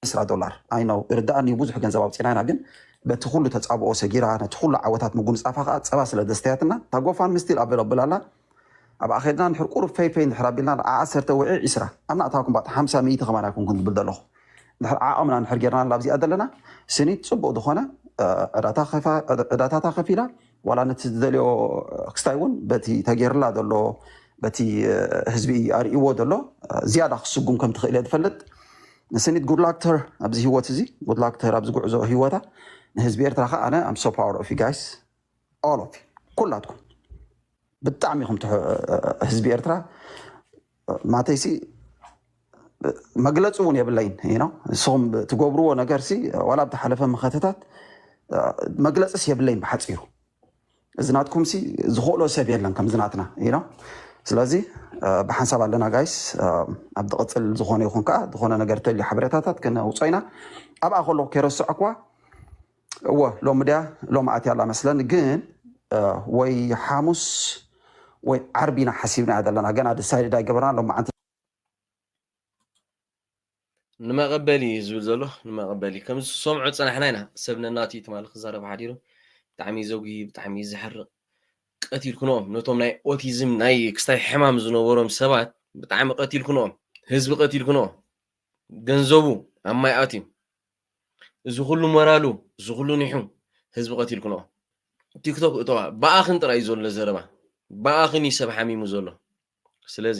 ዕስራ ዶላር ኣይ ኖው ይርድኣኒዩ ብዙሕ ገንዘብ ኣውጺና ኢና ግን በቲ ኩሉ ተጻብኦ ሰጊራ ነቲ ኩሉ ዓወታት ምጉንጻፋ ከኣ ጸባ ስለ ዘስተያትና እታ ጎፋንሚ ስቲል ኣቬለብል ኣላ ኣብኣ ከድና ንድሕር ቁሩብ ፈይ ፈይ እንድሕር ኣቢልና ንዓ ዓሰርተ ውዒ ዒስራ ኣብ ናእታውኩም ባእታ ሓምሳ ሚእቲ ከማን ኣይኮንኩን ዝብል ዘለኹ እንድሕር ዓቐምና እንድሕር ጌርና ላብዚኣ ዘለና ስኒት ጽቡቕ ዝኾነ ዕዳታ ከፋ ዕዳታታ ከፊላ ዋላ ነቲ ዝደልዮ ክስታይ እውን በቲ ተጌርላ ዘሎ በቲ ህዝቢ ኣርእይዎ ዘሎ ዝያዳ ክስጉም ከም ትኽእል እየ ዝፈልጥ ንስኒት good luck to her ኣብዚ ሂወት እዚ good luck to her ኣብዚ ጉዕዞ ሂወታ ንህዝቢ ኤርትራ ከኣ ኣነ I'm so proud of you guys all of you ኩላትኩም ብጣዕሚ ኢኹም ትሕ- ህዝቢ ኤርትራ ማተይሲ መግለፂ እውን የብለይን እዩ ነው ንስኹም ትገብርዎ ነገር ሲ ዋላ ብተሓለፈ መኸተታት መግለፅስ የብለይን ብሓፂሩ እዚ ናትኩም ሲ ዝኽእሎ ሰብ የለን ከምዚ ናትና you know ስለዚ ብሓንሳብ ኣለና ጋይስ ኣብ ዝቕፅል ዝኾነ ይኹን ከዓ ዝኾነ ነገር ተልዩ ሓበሬታታት ክነውፅኦ ኢና ኣብኣ ከሎ ከይረስዐክዋ እወ ሎሚ ድያ ሎሚ ኣትያ ኣላ መስለኒ ግን እ፣ ወይ ሓሙስ ወይ ዓርቢ ኢና ሓሲብና እያ ዘለና ገና ድሳይድድ ኣይገበርና ሎሚ መዓንቲ ንመቐበሊ እዩ ዝብል ዘሎ ንመቐበሊ ከም ዝሰምዑ ፅናሕና ኢና ሰብ ነናቱ እዩ ትማሊ ክዛረብ ሓዲሩ ብጣዕሚ እዩ ዘጉሂ ብጣዕሚ እዩ ዘሕርቕ ቀቲልኩኖም ነቶም ናይ ኦቲዝም ናይ ክስታይ ሕማም ዝነበሮም ሰባት ብጣዕሚ ቀቲልኩኖም ህዝቢ ቀቲልኩኖ ገንዘቡ ኣብ ማይ ኣትዩ እዚ ኩሉ ሞራሉ እዚ ኩሉ ኒሑ ህዝቢ ቀቲልኩኖ ቲክቶክ እተዋ ብኣኽን ጥራይ ዘሎ ዘረባ ብኣኽን እዩ ሰብ ሓሚሙ ዘሎ ስለዚ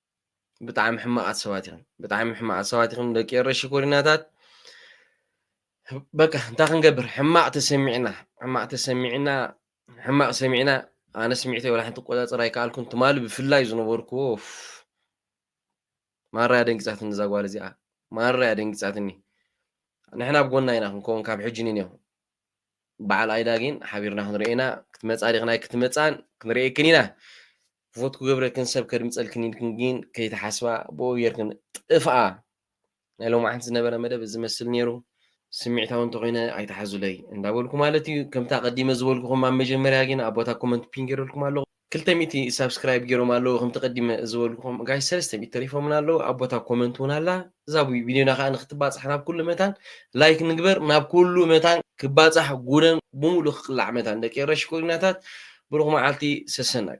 ብጣዕሚ ሕማቃት ሰባት ኢኹም ብጣዕሚ ሕማቃት ሰባት ኢኹም ደቂ ኤረ ሽኮሪናታት በቃ እንታይ ክንገብር ሕማቅ ተሰሚዕና ሕማቅ ተሰሚዕና ሕማቅ ሰሚዕና ኣነ ስሚዕተ ወላ ሓንቲ ቆፃፅር ኣይከኣልኩን ትማሊ ብፍላይ ዝነበርኩዎ ማራ ደንጊፃትኒ እዛ ጓል እዚኣ ማራ ደንጊፃትኒ ንሕና ኣብ ጎና ኢና ክንከውን ካብ ሕጂ ንኔኹ በዓል ኣይዳ ጊን ሓቢርና ክንሪኦ ኢና ክትመጻ ዲክን ኣይክትመጻን ክንሪኤክን ኢና ቮት ክገብረክን ሰብ ከድምጸልክን ኢልክን ጊን ከይትሓስባ ብኡ ጌርክን ጥፍኣ ናይ ሎማዓንቲ ዝነበረ መደብ እዚ መስል ኔሩ ስሚዕታዊ እንተኮይነ ኣይትሓዙለይ እንዳበልኩ ማለት እዩ ከምቲ ኣቀዲመ ዝበልኩኩም ኣብ መጀመርያ ጊን ኣብ ቦታ ኮመንት ፒን ጌረልኩም ኣለኩ ክልተ ሚእቲ ሳብስክራይብ ጌሮም ኣለዉ ከምቲ ቀዲመ ዝበልኩኹም ጋይስ ሰለስተ ሚእቲ ተሪፎምና ኣለዉ ኣብ ቦታ ኮመንት እውን ኣላ እዛ ቪድዮና ከዓ ንክትባፃሕ ናብ ኩሉ መታን ላይክ ንግበር ናብ ኩሉ መታን ክባፃሕ ጉደን ብምሉእ ክቅላዕ መታን ደቂ ኤረ ሽኮሪናታት ብሩኽ መዓልቲ ሰሰናዩ